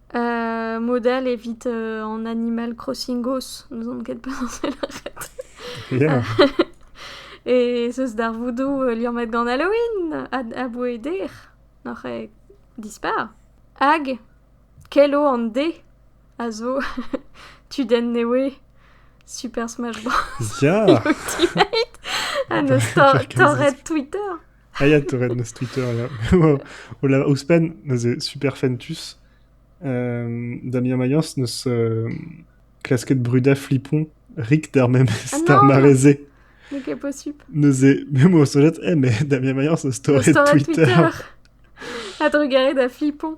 Model evit an Animal Crossing Ghost, n'ouzon ket penaos e lâret. Ya. E 'z eus darvoudoù liammet gant Halloween aboe dec'h, n'oc'h ket dispar. Hag kelo an dez a zo tudenn newe Super Smash Bros. Ya! Ultimate! ha 'neus torret Twitter. Hyatt a red na streeter, ouzhpenn neuze Super Fentus. Damien Mayence n'eus klasket brudañ flipon rik d'ar memes Ah d'ar non mare-se. Mais quel possible. Neuze, me mo solet, eh, mais Damien Mayence a story Sur Twitter. Twitter. A drugarez da Flipon.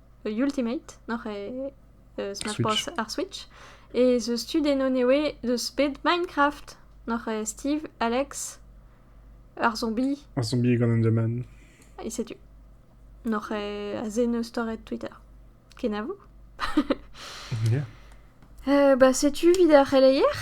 Ultimate, n'oc'h e eus ma porzh ar Switch. Ez eus tu d'ennon eo deus bet Minecraft. N'oc'h e Steve, Alex, ar zombi. Ar zombi gant Enderman. E setu. N'oc'h e a zen eus torret Twitter. Kenavo. yeah. Ba setu 'vit ar c'heleier.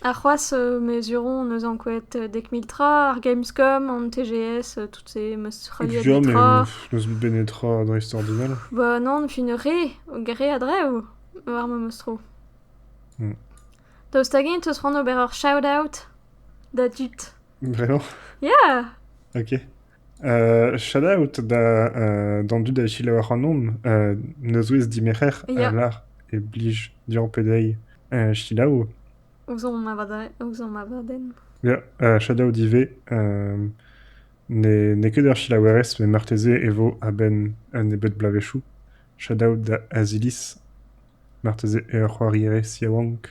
Ha c'hoazh me zuro hon eus ankouaet dek mil tra, ar Gamescom, an TGS, tout se, 'm eus heuliet Fur, bet tra. mais n'eus bet netra dreistordinal. Ba non, fin re, re a-drev, war memes tro. Hmm. Daoust hag-eñ 'teus c'hoant ober ur shout-out da dud? Bremañ? Ya! Ok. Shout out d'an dud a selaou ac'hanomp. Nozvezh dimerc'her a lar e blij deomp dezhi selaou. Ouzhomp abadenn. Ya, shout out ivez. N'eo ket ur selaouerez met marteze e vo a-benn un nebeud bloavezhioù. Shout out da Aziliz. Marteze eo ur c'hoarierez yaouank.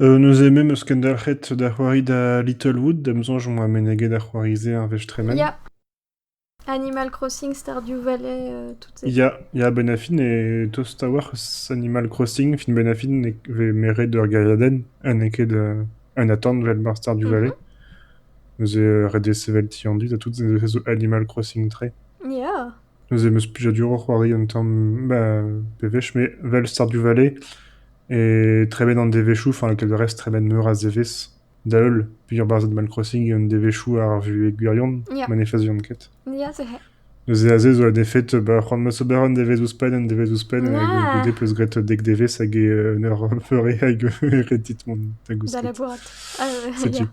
Neuze me 'm eus kendelc'het da c'hoari da Littlewood, da'm soñj on oa meneget ar c'hoari-se ar wech tremen. Ya. Animal Crossing, Stardew Valley, euh, toutes ces... Ya, ya, Ben Affleck e tost a-walc'h eus Animal Crossing. Film Ben Affleck e vez meret ur gêriadenn ha n'eo ket euh, un atant 'vel mar Stardew Mhm. Valley. Neuze euh, ret eo sevel ti an dud ha tout se zo Animal Crossing 3. Ya. Neuze em eus plijaduroc'h c'hoari un tamm bewech met 'vel Stardew Valley e tremen an devezhioù, enfin lakaet da rest tremen meur a zevezh da-heul peogwir barzhed Animal Crossing eo an devezhioù ar vuhez gwirion ma ne faziont ket. Ya se c'hell. Neuze aze zo un efed ba c'hoant 'meus ober un devezh ouzhpenn, un devezh ouzhpenn hag goude 'peus graet dek devezh hag e un eur feure hag e retit mont da gousket. Da labourat. Setu.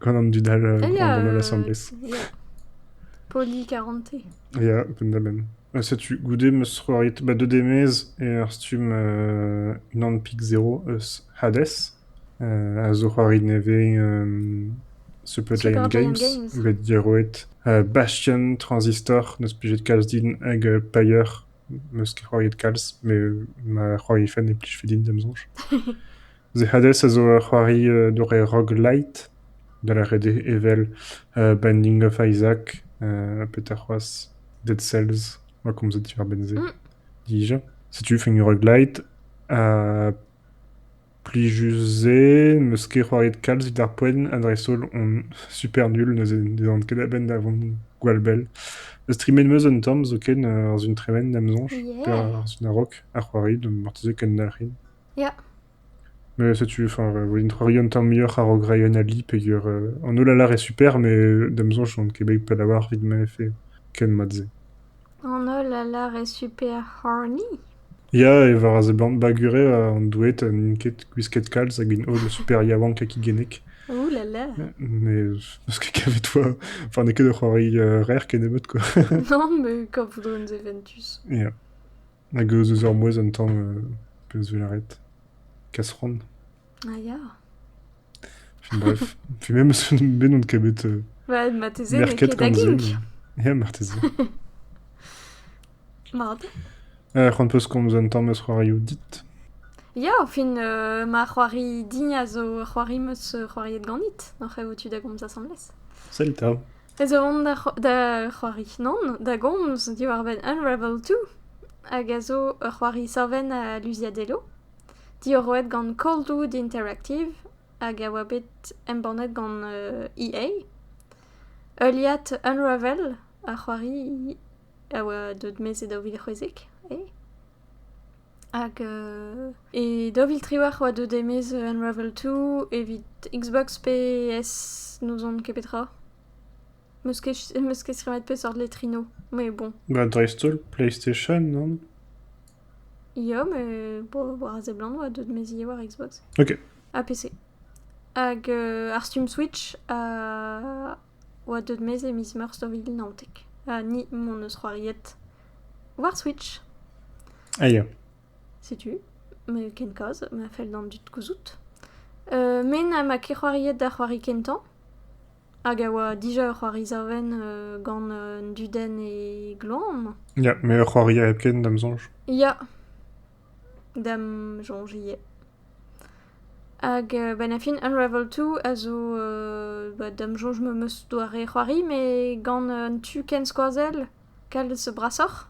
Gant an dud all eh grondomp asambles. Ya, Poli Karante. Ya, penn-da-benn. Ha setu, goude m'eus c'hoariet ba deux demez e ur stumm euh, unan pik zero eus Hades, euh, a zo c'hoari nevez euh, Super, Giant, Giant Games, bet diorroet. Euh, Bastion, Transistor, n'eus plijet kalz din, hag euh, Pyre, m'eus ket c'hoariet kalz, mais ma c'hoari fen e plij fe din, d'am soñj. The Huddles a zo ur c'hoari d'ur re rock-light, da lâret eo evel Binding of Isaac petra c'hoazh, Dead Cells, oa komzet diwar-benn-se dija. Setu fenn rock-light ha plijus-se, 'meus ket c'hoariet kalz evit ar poent ha dreist-holl on super nul, neuze ne dan ket a-benn da vont gwall bell. Streamet 'meus un tamm zoken, ar Zun Tremen da'm soñj, pe ar Zun a-raok, a c'hoari, marteze kendalc'hin. Ya. Mais setu, enfin, un troari un tamm muioc'h a-raok reiñ un ali peger... an holl a lâre super, mais da'm soñj n'on ket bet pell a-walc'h evit ma vefe ken mat-se. An holl a lâre super horny? Ya, e war a seblant bagure an doueed n'int ket gwisket kalz hag int holl super yaouank ha kigennek. Ouh là là! Mais n'eus ket kavet foa... Enfin, n'eo ket ur c'hoari rer kennebeut, quoi. Non, mais quand vous donnez Ventus. Ya. Hag eus eus ur mouezh an tamm peus 'vel lâret kasran. Ah ya. Fin bref, fin memes bet on ket bet Bah marteze n'eo merket ket da gant se. gig. Ya marteze. Mat. c'hoant 'peus komz un tamm eus c'hoarioù dit? Ya, fin euh, ma c'hoari din a zo ur c'hoari 'm eus c'hoariet ganit. Oc'h avout tu da gomz asambles. Sell 'ta. ez eo on da c'hoari, nann? Da gomz diwar-benn Unravel Two, hag a zo ur c'hoari savenn a luziadello, diorroet gant Coldwood Interactive, hag a oa bet embannet gant EA. Heuliad Unravel, ar c'hoari a oa deuet 'maez e daou vil c'hwezek, eh? Hag e daou vil triwec'h 'oa deuet e-maez Unravel Two evit Xbox pe PS, n'ouzon ket petra. 'Meus ket ch- 'meus ket stremmet peseurt letrino, mais bon. Ba dreist-holl PlayStation non? Ya, mais bon, war a seblant 'oa deuet mezilh war Xbox. Ok. Ha PC. Hag ar Steam Switch a... oa deuet maez e miz Meurzh daou vil naontek, ha ni m'hon eus c'hoariet war Switch. Ah ya. Setu, met ken kaoz, ma fell d'an dud gouzout. Euh, me na ma ket c'hoariet da c'hoari kentañ, hag a oa dija ur c'hoari savenn euh, gant un dudenn e gloan. Ya, met ur c'hoari hepken, da'm soñj. Ya. Da'm soñj ivez. Hag a-benn ar fin Unravel2 a zo da'm soñj me'm eus doare c'hoari met gant un tu ken skoazell kalz brasoc'h.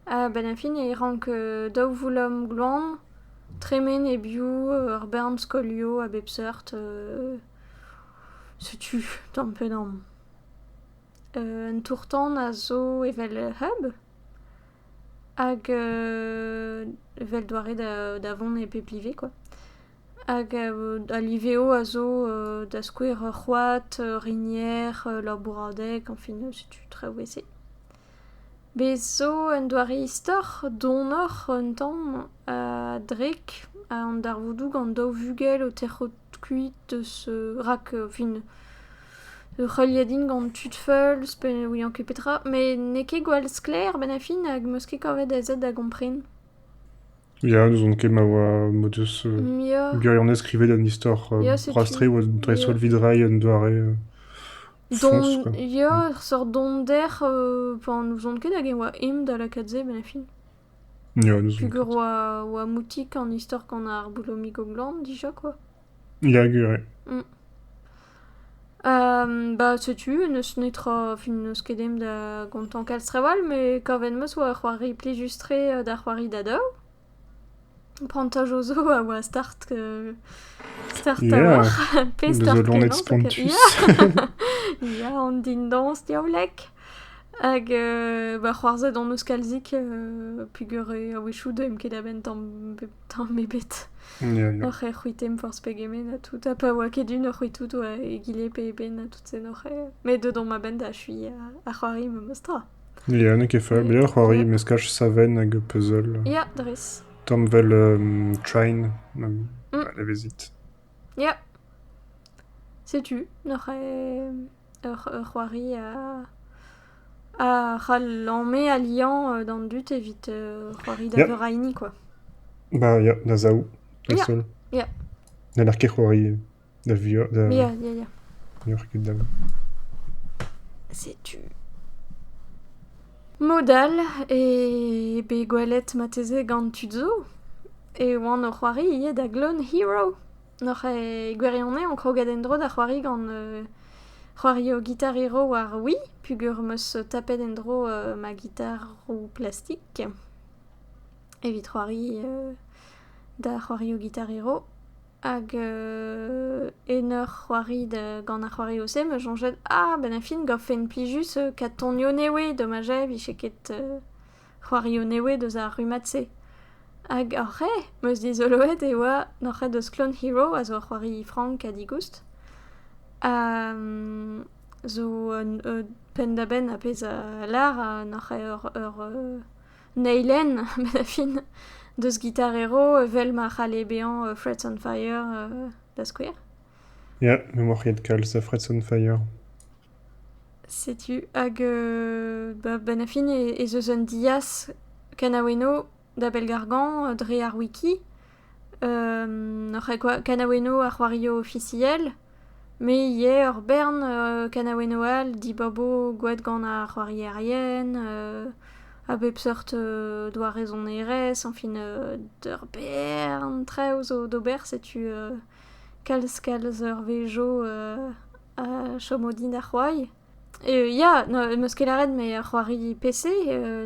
A-benn ar fin e rank daou voulom gloan tremen e-biou ur bern skolioù a bep seurt. Setu tamm pe damm. Un tour-tan a zo evel Hub. Hag evel doare da vont e pep live quoi. Hag al liveo a zo da skouer ur c'hoad, ur rinier, ur bouradeg, enfin setu traoù ese. Bez' zo un doare istor donoc'h un tamm a-drek an darvoudoù gant daou vugel o terc'hout kuit eus... rak enfin Ur c'heuliadin gant tud feuls pe ne ouian ket petra, met n'eo ket gwall sklaer a-benn ar fin hag 'm eus ket kavet a zad da gompren. Ya, n'ouzon ket ma oa m'o deus Ya. gwirionez skrivet an istor Ya, setu. rastreoù dreist-holl evit reiñ un doare foñs Dont, quoi. ya, ur seurt donder euh, pa n'ouzon ket hag e oa eñ da lakaat se a-benn ar fin. Ya, n'ouzon Pugur ket. oa, oa moutik an istor gant ar Boulomig o glan dija, quoi. Ya gwir eo. Ba setu, n'eus netra, fin n'eus ket aimp da gontañ kalz trawal, met kavet 'm eus 'oa ur c'hoari plijus-tre d'ar c'hoari da daou. Prantaj o zo a oa start start a-walc'h. Pe start kenañ. Ya, an dindañs diaoulek. Hag ba c'hoarzhet hon eus kalzik peogwir a-wechoù 'deuimp ket a-benn tamm Tamm ebet. Ya, ya. Oc'h e c'hwitem forzh pegement ha tout. Ha pa oa ket un oc'h c'hwitout oa egile pe eben ha tout sen oc'h. e- Met deut on ma benn da achuiñ ha ar c'hoari memes tra. Ya, n'eo ket fall. Mais ur c'hoari meskaj savenn hag puzzle. Ya, dres. Tamm vel um, train. Um, Mm. Levezit. Ya. Setu, n'oc'h e... ur c'hoari a ra lamme ha liañ d'an dud evit c'hoari da veuraini kwa. Ba ya, da zaou dreist-holl. Ya. N'haller ket c'hoari da vuoc'h da... Ya, ya, ya. N'oc'h ket da... Setu... Mod all eo bet gwelet marteze gant tud zo e oan o c'hoari ivez da Clone Hero. Noc'h e gwirionez on kroget en-dro da c'hoari gant euh, c'hoario gitar hero war Wii pugur 'm eus tapet en-dro euh, ma gitaroù plastik evit c'hoari euh, da c'hoario gitar hero hag euh, en ur c'hoari da- gant ar c'hoarioù-se 'm eus soñjet ah benn ar fin 'gavfen plijus kat tonioù nevez dommaj eo 'vije ket euh, c'hoarioù nevez deus ar rummad-se hag hor c'hae 'meus dizoloet e oa hor c'hae deus Clone Hero a zo ur c'hoari frank ha digoust ha zo un penn-da-benn ar pezh a lâr hor c'hae ur eilenn bet da fin deus Guitar Hero evel ma c'halle bezañ Frets on Fire da skouer. Ya, m'emaoc'h ket kalz a Frets on Fire. Setu, hag ba 'benn ar fin ez eus un diaz kanaou eno da Belgargan dre ar wiki. kanaou eno ar c'hoarioù ofisiel, me ivez ur bern kanaou eno all dibabo gwad gant ar c'hoarierien a bep seurt doare sonerezh, añfin ur bern traoù zo d'ober, setu kalz kalz ur wezh 'zo chomo din da c'hoari. Ya, n'em eus ket lâret met c'hoari PC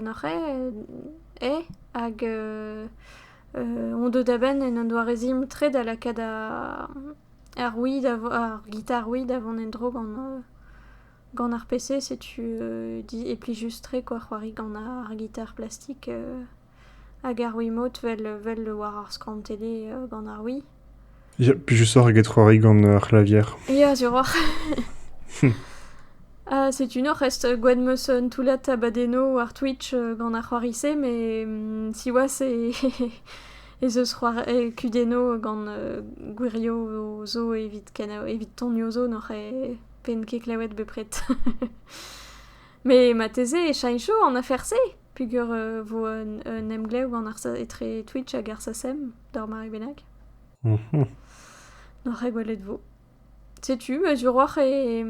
n'oc'h eo hag on deuet a-benn en un doare-zimp tre da lakaat ar Wii da vo- ar gitar Wii da vont en-dro gant gant ar PC setu e plijus-tre kwa c'hoari gant ar gitar plastik. Hag ar Wiimote 'vel war ar skorn tele gant ar Wii. Ya, plijusoc'h eget c'hoari gant ar c'hlavier. Ya, suroc'h. Ha setu nor rest gwad 'meus un toullad abadennoù war Twitch gant ar c'hoari-se, met siwazh ez eus c'hoari kudennoù gant gwirioù zo evit evit tonioù zo n'oc'h pen ket klevet bepred. met marteze e cheñcho an afer-se. Peger e vo un emglev gant etre Twitch hag RSSM d'ar mare bennak N'oc'h ket gwelet vo. Setu, ma diwroc'h e,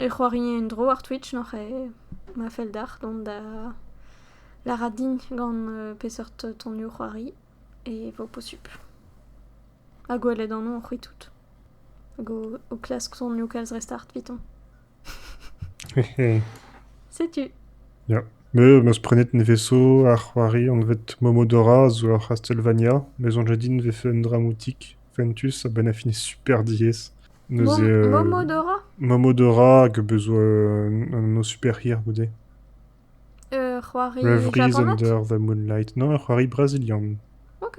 e c'hoarie un-dro ar Twitch n'oc'h ma fell deoc'h dont da lârat din gant peseurt tonioù c'hoari e vo posupl. Ha gwelet anv c'hwi tout. Hag ho klask tonioù kalz re start evitañ. Setu. Ya, me 'meus prenet nevez-zo ar c'hoari anvet Momodora zo ur C'hastelvania. Me 'soñje din e vefe un dra moutik, fentus a-benn a fin super diaes. Neuze euh, Momodora? Momodora hag a beus un o super hir goude. Ur c'hoari japanat? Ur c'hoari brasilian. Ok.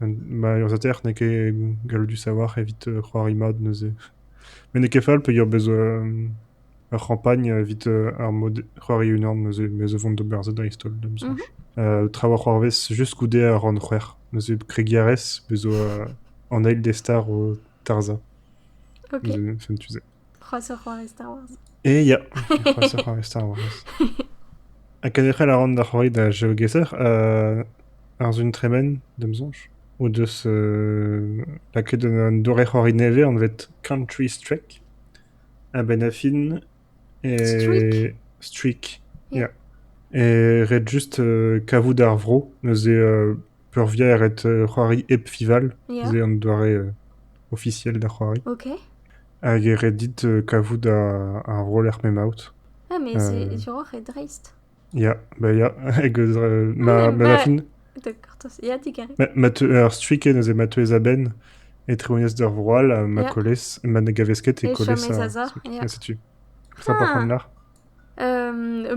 Ma urzhiataer n'eo ket galloudus a-walc'h evit c'hoari mat neuze. Met n'eo ket fall peogwir bez ur c'hampagn evit ar mod c'hoari unan neuze. Bez' e vont d'ober se dreist-holl da'm soñj. traoù a c'hoarvez just goude ar rann c'hwec'h. Neuze kregiñ a rez, bez' zo an eil des stars o tarzhañ. Sentu se. C'hoazh ur c'hoarez Star Wars. Eh ya, c'hoazh ur c'hoarez Star Wars. Ha kenderc'hel a ran da c'hoari da Geogesser, euh, ar Zun Tremen, d'am soñj, o deus euh, lakaet un doare c'hoari nevez anvet Country Strike a-benn a fin. Et... Streak? Streak, ya. Et ret just euh, kavout ar vro neuze euh, peurvuiañ e ret c'hoari hep fival, se an doare ofisiel da c'hoari. Hag e ret dit kavout ar roller m'emaout. Ah mais c'est duroc'h et dreist. Ya, bah ya, hag eus ma ma fin. Ya digarez. Ma teu ar striken aze ma teuez a-benn e treonias d'ur vro all ha ma kolez ma ne gavez ket e kolez ha setu. Setu. Sympa c'hoant nac'h.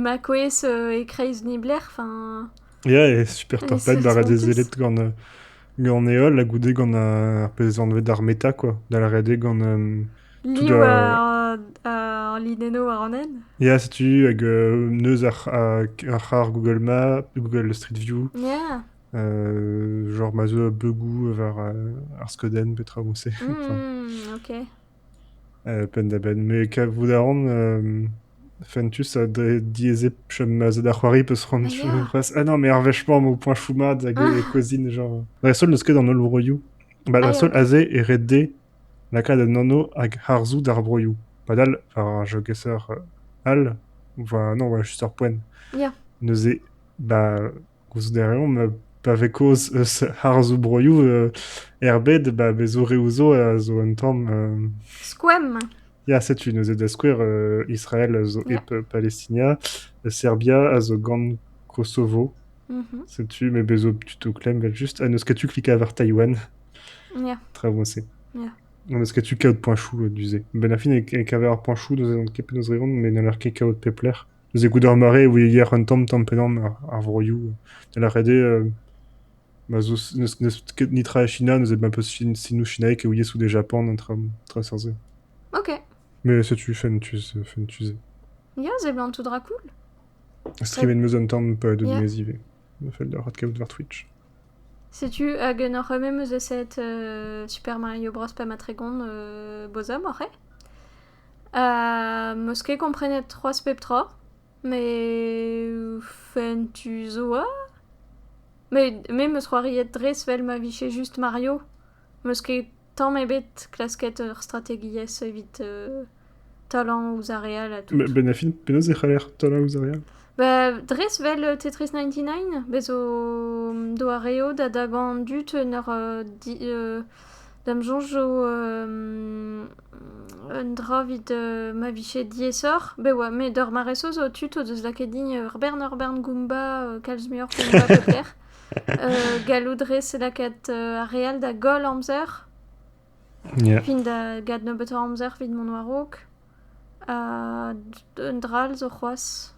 ma kouezh e-kreiz niblec'h. Enfin, Ya, e super euh, torped ça se bara voit dezellet tous. gant, euh, gant e holl, ha goude gant euh, ar pezh anvet armeta, quoi. Da lâret eo gant euh, tout Ni a... war, ar linenno war an hent? Ya, setu, hag euh, neuz ar, ar, ar c'har Google Maps, Google Street View, Yeah. euh, genre ma zo a beugou war euh, ar Skoden, petra on sait. Enfin, Hmm, ok. Penn-da-benn. Me kavout a ran fentus ha dre diaezet chom aze da c'hoari peus c'hoant c'hoazh. Ah non, mais ar wech mañ emañ o poeñchoù mat hag e kozhin genre... Dreist-holl n'eus ket an holl vroioù. Ba dreist-holl aze e red dezhe lakaat un anv hag harzoù d'ar broioù. Padal, war ar jogaser all, enfin non, war just ar poent, neuze, ba... Koulskoude reomp, pa vez kaoz eus harzoù-broioù erbet, ba bezoreoù zo a zo un tamm... Skoemp! Ya, setu neuze da skouer Israel a zo hep Palestina, Serbia a zo gant Kosovo. Setu, met bez zo plutôt klemm evel-just. Ha n'eus ket tu klikañ war Taïwan. Ya. Tra bon se. Ya. N'eus ket tu kaout poañchoù du-se. Ben ar fin, e-keñver ar poañchoù, n'eus ket penaos reont, met n'haller ket kaout pep lec'h. Neuze goude ar mare e voe yec'h un tamm-tamm pennañ ar vroioù. Da lâret eo ma 'z eus ket netra e China neuze ma peus sinoù chinaek e ouies out e Japan an traoù-se. Ok. Mais setu fentus, fentus eo. Ya, seblant tout dra cool. Streamet 'm eus un tamm pa do dimez ivez. Ma fell deoc'h adkavout war Twitch. Setu hag n'oc'h me meus eset Super Mario Bros. pa ma tregont Boz oc'h eo? 'meus ket komprenet c'hoazh pep tra, met fentus 'zo oa. met me 'meus c'hoariet dres 'vel ma vije just Mario. 'meus ket tamm ebet klasket ur strategiezh evit talañ ouzh ar re all ha tout. Benafin, penaos e c'haller talañ ouzh ar re all? Ba dres 'vel Tetris ninety nine, bez 'zo doareoù da dagañ an dud en ur di- D'am soñj eo un dra evit ma vije diaesoc'h. Bev oa, met ur mare-se zo tud o deus lakaet din ur bern ur bern goumba, kalz muioc'h goumba peut-être. gallout dre se lakaat ar re all da goll amzer, Yeah. fin da gant nebeutañ amzer evit mont war-raok. Ha un dra all zo c'hoazh.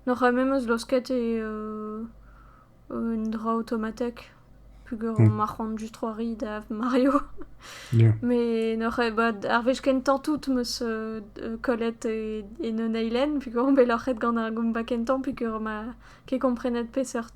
N'oc'h ket memes laosket un dra aotomatek peogwir ma c'hoant just c'hoari da Mario. Met n'oc'h ket bet ar wech kentañ tout 'm eus kollet en un eilenn peogwir on bet loc'het gant ar goumba kentañ peogwir ma ket komprenet peseurt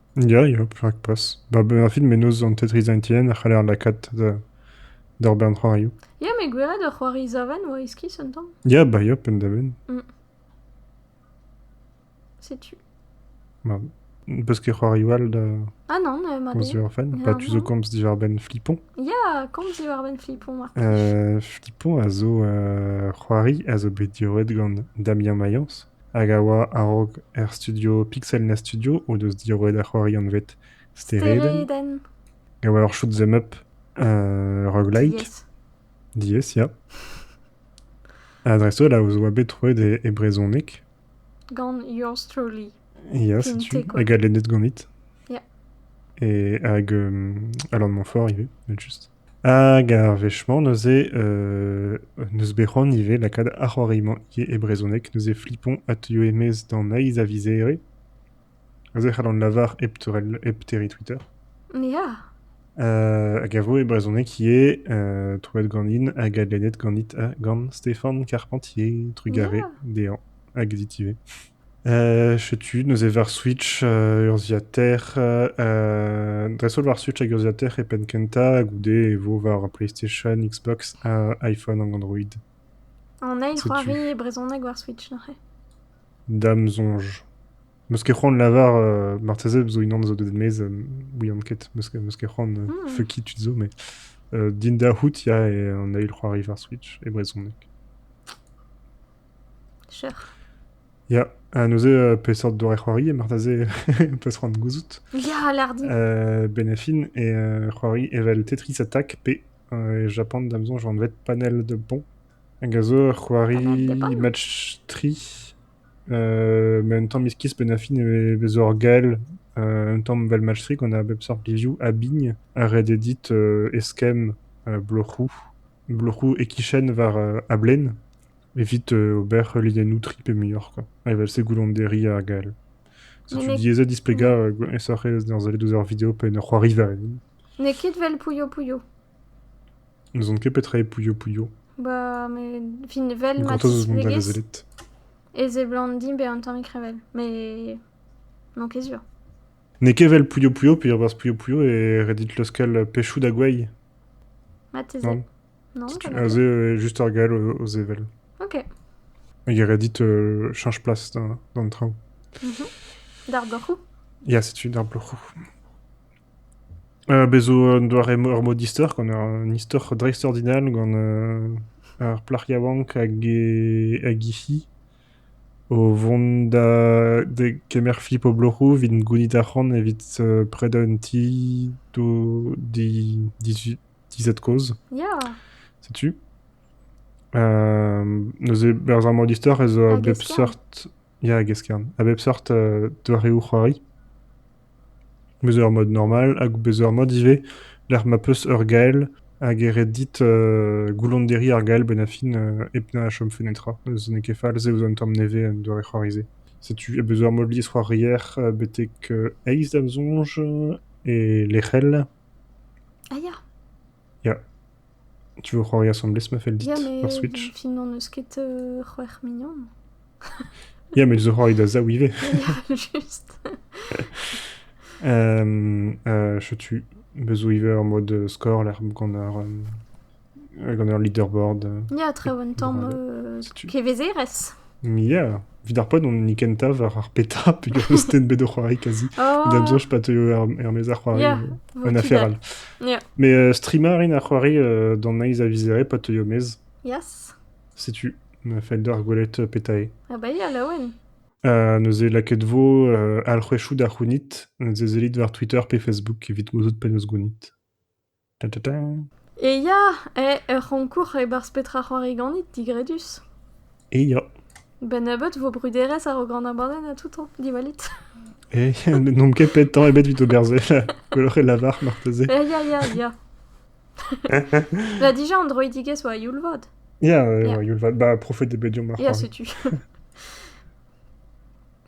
Ya, ya, rakpas. Ba bennañfin mennozh an Tetris Entiern a c'haller lakaat d'ur bern c'hoarioù. Ya, met gwelet ur c'hoari zaven oa iskis un tamm. Ya, ba ya, penn-da-benn. Mm. Setu. Ma, peus ket c'hoarioù all da... Ah non, euh, ma den. orphan Bah, tu zo komz diwar-benn Flipon Ya, komz diwar-benn Flipon, marteze. Euh, Flipon a zo euh, c'hoari a zo bet diorret gant Damien Mayence. hag a oa a-raok er studio Pixelna Studio o deus diroet ar c'hoari anvet Steredenn. E oa ur shoot 'em up roguelike. Diaes. Diaes, ya. Ha dreist-holl a oa bet troet e, e brezhoneg. Gant yours truly. Ya, setu. Hag a lennet ganit. Ya. Et hag euh, Alain de Montfort ivez, evel juste. Hag ar wech-mañ neuze n'eus bet c'hoant ivez lakaat ar c'hoari-mañ ivez e brezhoneg. Neuze Flipon a teuio e-maez d'an heiz a vizere. Neuze c'hallan lavar hep teurel hep terriñ Twitter. Ya. Hag a vo e brezhoneg ivez troet ganin hag adlennet ganit ha gant Stefan Carpentier, trugarez dezhañ hag dit ivez. Setu neuze war Switch urzhiataer dreist-holl war Switch hag urzhiataer e penn-kentañ goude e vo war PlayStation, Xbox ha iPhone hag Android. On a une Setu. c'hoari brezhoneg war Switch neuze. Da'm soñj. Meus ket c'hoant lavar, euh, marteze zo unan zo deut maez, euh, ouian ket, meus ket meus ket c'hoant, euh, Hmm. fucky tud zo, mais euh, Dinda Hout, ya, et on a eu le c'hoari war Switch, e brezhoneg. Sure. Ya, ha neuze, peseurt doare-c'hoari marteze peus c'hoant de gouzout Ya, lardi euh, Benafin et euh, c'hoari evel Tetris Attack pe euh, Japan da maison joan vet panel de bon hag a zo ur c'hoari match tri euh, ma un tamm iskis Benafin e vez ur gael euh, un tamm vel match tri qu'on a bep seurt review a bigne ha ret eo dit euh, eskemm bloc'hoù bloc'hoù e-kichen war a-blen evit ober heuliennoù tri pe muioc'h quoi, evel-se goullonderi ar gall. Setu diaes displegañ aesoc'h eo d'ar sellet ouzh ar video pe en ur c'hoariva even. N'eo ket 'vel Pouyo Pouyo. N'ouzon ket petra eo Pouyo Pouyo. Ba, met fin 'vel ma tisplegez e seblant dimp bezañ un tammig revel, met n'on ket sur. N'eo ket evel Pouyo-Pouyo peogwir Pouyo-Pouyo e red dit leuskel pechoù da gwei. Marteze. Non. Non, Setu- pas mal. Aze eo juste ur gall o, o sevel. Ok. Hag e red dit euh, change place d'an d'an traoù. D'ar bloc'hoù Ya, setu d'ar bloc'hoù. Euh, bezo un doare ur mod istor, gant un istor dreist-ordinal, gant euh, ar plac'h yaouank hag e, hag he fi. O vont da degemer Fippo-Bloc'hoù evit gounit arc'hant evit predañ un ti d'o dizad-kozh. Ya! Setu. neuze berzh ar magistor ez a a bep seurt... Ya, a-geskern. A bep seurt doareoù c'hoari. Bez' ur mod normal hag bez' ur mod ivez lec'h ma 'peus ur gael hag e ret dit goullonderiñ ar gael benn ar fin hep na chomfe netra. Neuze n'eo ket fall, se 'vo un tamm nevez en doare c'hoarize. Setu beus ur mod liesc'hoarier betek eizh da'm soñj e lec'hel. Ah ya! Ya. Tu veux c'hoari asambles ma fell dit Ya, mais war Switch fin n'en eus ket euh, c'hwec'h mignon. Ya, mais je c'hoari da zaou ivez. Ya, juste. Euh, euh, chetu, bezo iver en mode euh, score, l'air gant ar, euh, gant ar leaderboard. euh, Ya, tre un tamm grade. euh, Si tu- kevezeres. Ya, evit ar pod, on hini kentañ war ar PETA, peogwir n'eus den bet o c'hoari kazi. Da am soñj pa teuio er, er-maez ar c'hoari, Ya, euh, un affaire all. Ya. Mais euh, streamer int ar c'hoari euh, d'an naiz a vizere pa teuio maez. Yes. Setu ma fell deoc'h gwelet euh, PETAE. Ha bai, ha laouen. Uh, neuze lakaet vo uh, alc'hwezhioù da c'hounit, neuze sellit war Twitter pe Facebook evit gouzout penaos gounit. E ya, eo ur c'hoñkour e-barzh petra c'hoari ganit, digredus. E ya. Ben-nebeut 'vo bruderezh a-raok an abadenn ha tout, diwallit. Eh, n'omp ket petan ebet evit ober se, gwelloc'h e lavar marteze. Eh, ya, ya, ya. Bah, déjà, Androidigez oa youl-vad. Ya, oa youl-vad. Bah, profet eo bet diomp ar c'hoari. Ya, setu.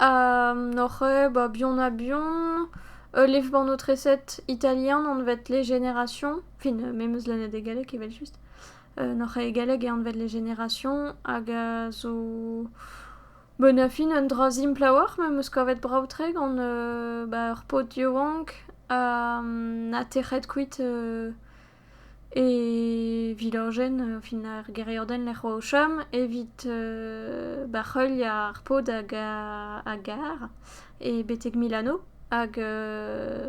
N'oc'h ket ba bihan-ha-bihan ul levr-bannoù-treset italian anvet Les Générations, fin me 'm eus lennet e galleg evel-just. N'oc'h ket e galleg e anvet Les Générations hag a zo bon a fin un dra simpl a-walc'h ma 'm eus kavet brav-tre gant ba ur paotr yaouank ha tec'het kuit E vilojenn fin ar gêriadenn lec'h oa o chom evit bac'heuil ar paotr hag a gar e betek Milano hag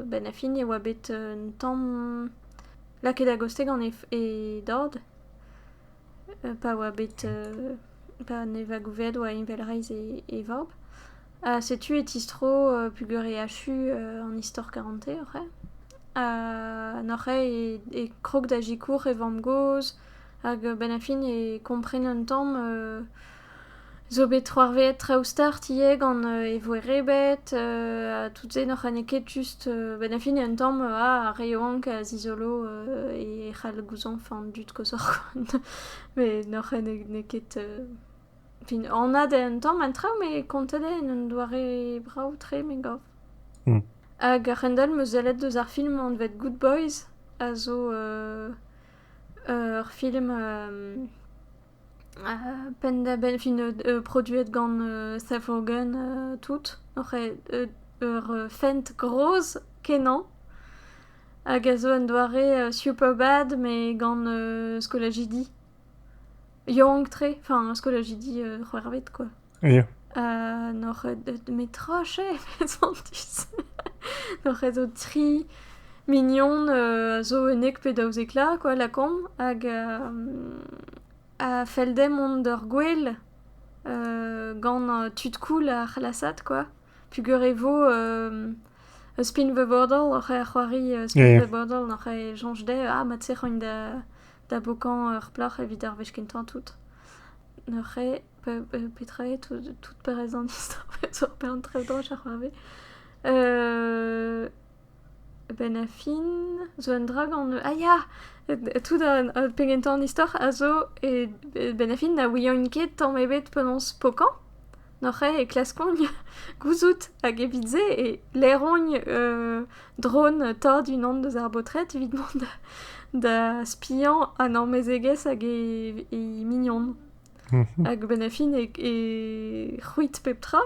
benn ar fin e oa bet un tamm lakaet a-goste gant e dad pa oa bet. Gant e vagouved oa envel reizh e vab. Ha setu e tistro pegwir e achu an istor karante oc'h eo. Ha oc'h eo e krog da sikour e vamm-gozh hag a-benn ar fin e kompren un tamm zo bet c'hoarvezet traoù start ivez gant e voerebed ha tout se n'oc'h n'eo ket just a-benn ar fin un tamm ar re yaouank a zizolo e c'hall gouzañv an dud koshoc'h koant. Met n'oc'h n'eo ket... fin anat eo an tamm an traoù met kontet eo en un doare brav-tre me gav. Hag a-hend-all 'm eus sellet deus ar film anvet Good Boys a zo ur film penn-da-benn fin produet gant Seth Rogen tout. Oc'h ur fent gros kenañ. hag a zo un doare superbad met gant skolajidi yank-tre, enfin skolajidi c'hwec'hvet quoi. Ya. Ha n'oc'h ket met trochet met santus. n'oc'h ket zo tri mignon a zo unnek pe daouzek la quoi lakaomp hag a fell dezhañ mont d'ur gwel gant tud cool ar c'hlasad quoi. Pugur e vo ur spin-vebordell oc'h c'hoari spin-vebordell oc'h soñj dezhe ah mat-se roin da bokañ ur plac'h evit ar wech kentañ tout. Neuze petra eo tout peurrest an istor zo peurtrev droch a c'hoarvez? A-benn ar fin zo un dra gant ah ya! tout pegen tamm an istor a zo a-benn ar fin na ouian ket tamm ebet penaos pokañ. N'oc'h ket e klaskont gouzout hag evit-se e laeront drone tad unan deus ar baotred evit mont da spiañ an amezegez hag he mignon. Hag benn a fin e c'hwit pep tra,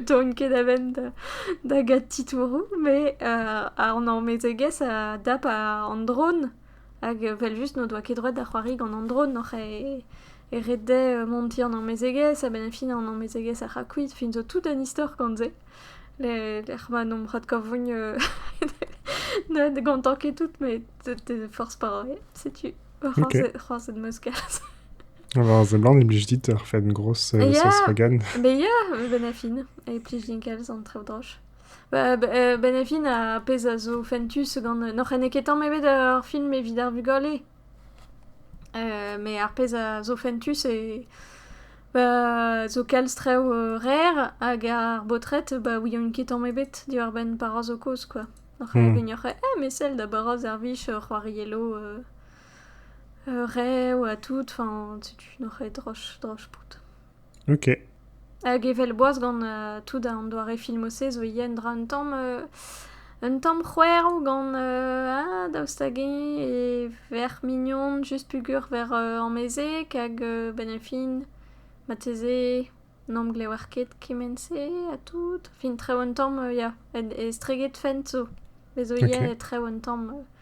doan ket a-benn da gat titouroù, met an amezegez a dap an dron, hag evel-just n'o doa ket droed da c'hoari gant an dron oc'h e ret dezhe montiñ an amezegez, ha benn a fin an amezegez a ra kuit, fin zo tout un istor gant se, lec'h ma n'omp c'hoant gantañ ket tout, met forzh pas, setu c'hoarzhet 'm eus kalz. War a seblant e blij dit ur fenn gros eus ya, Volkswagen. Be ya, Benafin. E plij din kalz an traoù droch. Ba- ba- euh, Benafin a pezh a zo fentus gant... N'oc'h ene ket tamm ebet ar film evit ar vugale. Euh, mais ar pezh a zo fentus e... Ba zo kalz traoù euh, rer hag ar baotred ba ouient ket tamm ebet diwar-benn Barroso kozh quoi. Oc'h Hmm. gouignoc'h eh mais sell da Barroso ar vich ur c'hoariello euh, rev ha tout, enfin, setu n'oc'h ket droch, droch bout. Ok. Hag evel boaz gant euh, tout an doare filmose zo ivez un dra un tamm... euh, un tamm c'hwerv gant euh, ah, daoust hag eñ e verc'h mignon just pugur ver euh, amezek hag euh, benn a fin marteze n'amblewer ket kement-se ha tout. Fin trev un tamm euh, ya, et- estreget fent zo. Bez zo ivez Ok. trev un tamm euh,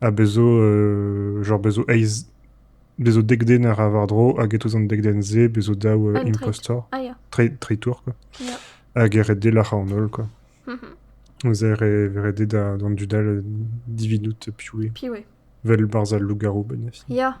Ha bez' zo genre bez' zo eizh, bez' zo dek den a ra war-dro hag e-touez an dek den-se bez' zo daou Un tri. impostor, Ah ya. tri, tri tour quoi. Ya. Hag e red dezhe lac'hañ an holl quoi. Mhm. Ze re, re dezhe da- d'an dud all dividout piv eo. Puis ouais. Vel barzh al lougarou benniz. Ya.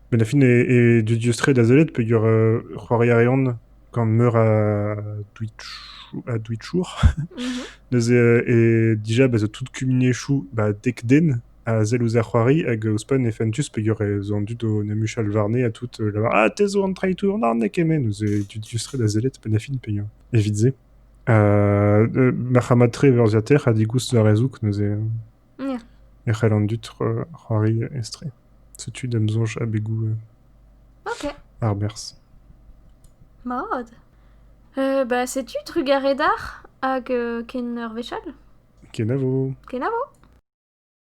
Met a fin eo dudius-tre da sellet peogwir c'hoari a reont gant meur a Twitchour. Neuze eo dija bezañ tout kumuniezhioù ba dek den a sell ouzh ar c'hoari hag ouzhpenn e fentus peogwir ez an dud o 'n em huchal warne ha tout lavar ah te zo an traitour Narn eo kement. Neuze eo dudius-tre da sellet penn ha fin peogwir evit se. Marc'hamañ-tre urzhiataer ha digoust d'ar rezoug neuze e c'hell an dud c'hoari aes-tre. Setu d'am soñj abegoù Ok, arberzh. mat. Euh, bah, setu trugarez d'ar hag euh, ken ur wech all. Kenavo! Kenavo!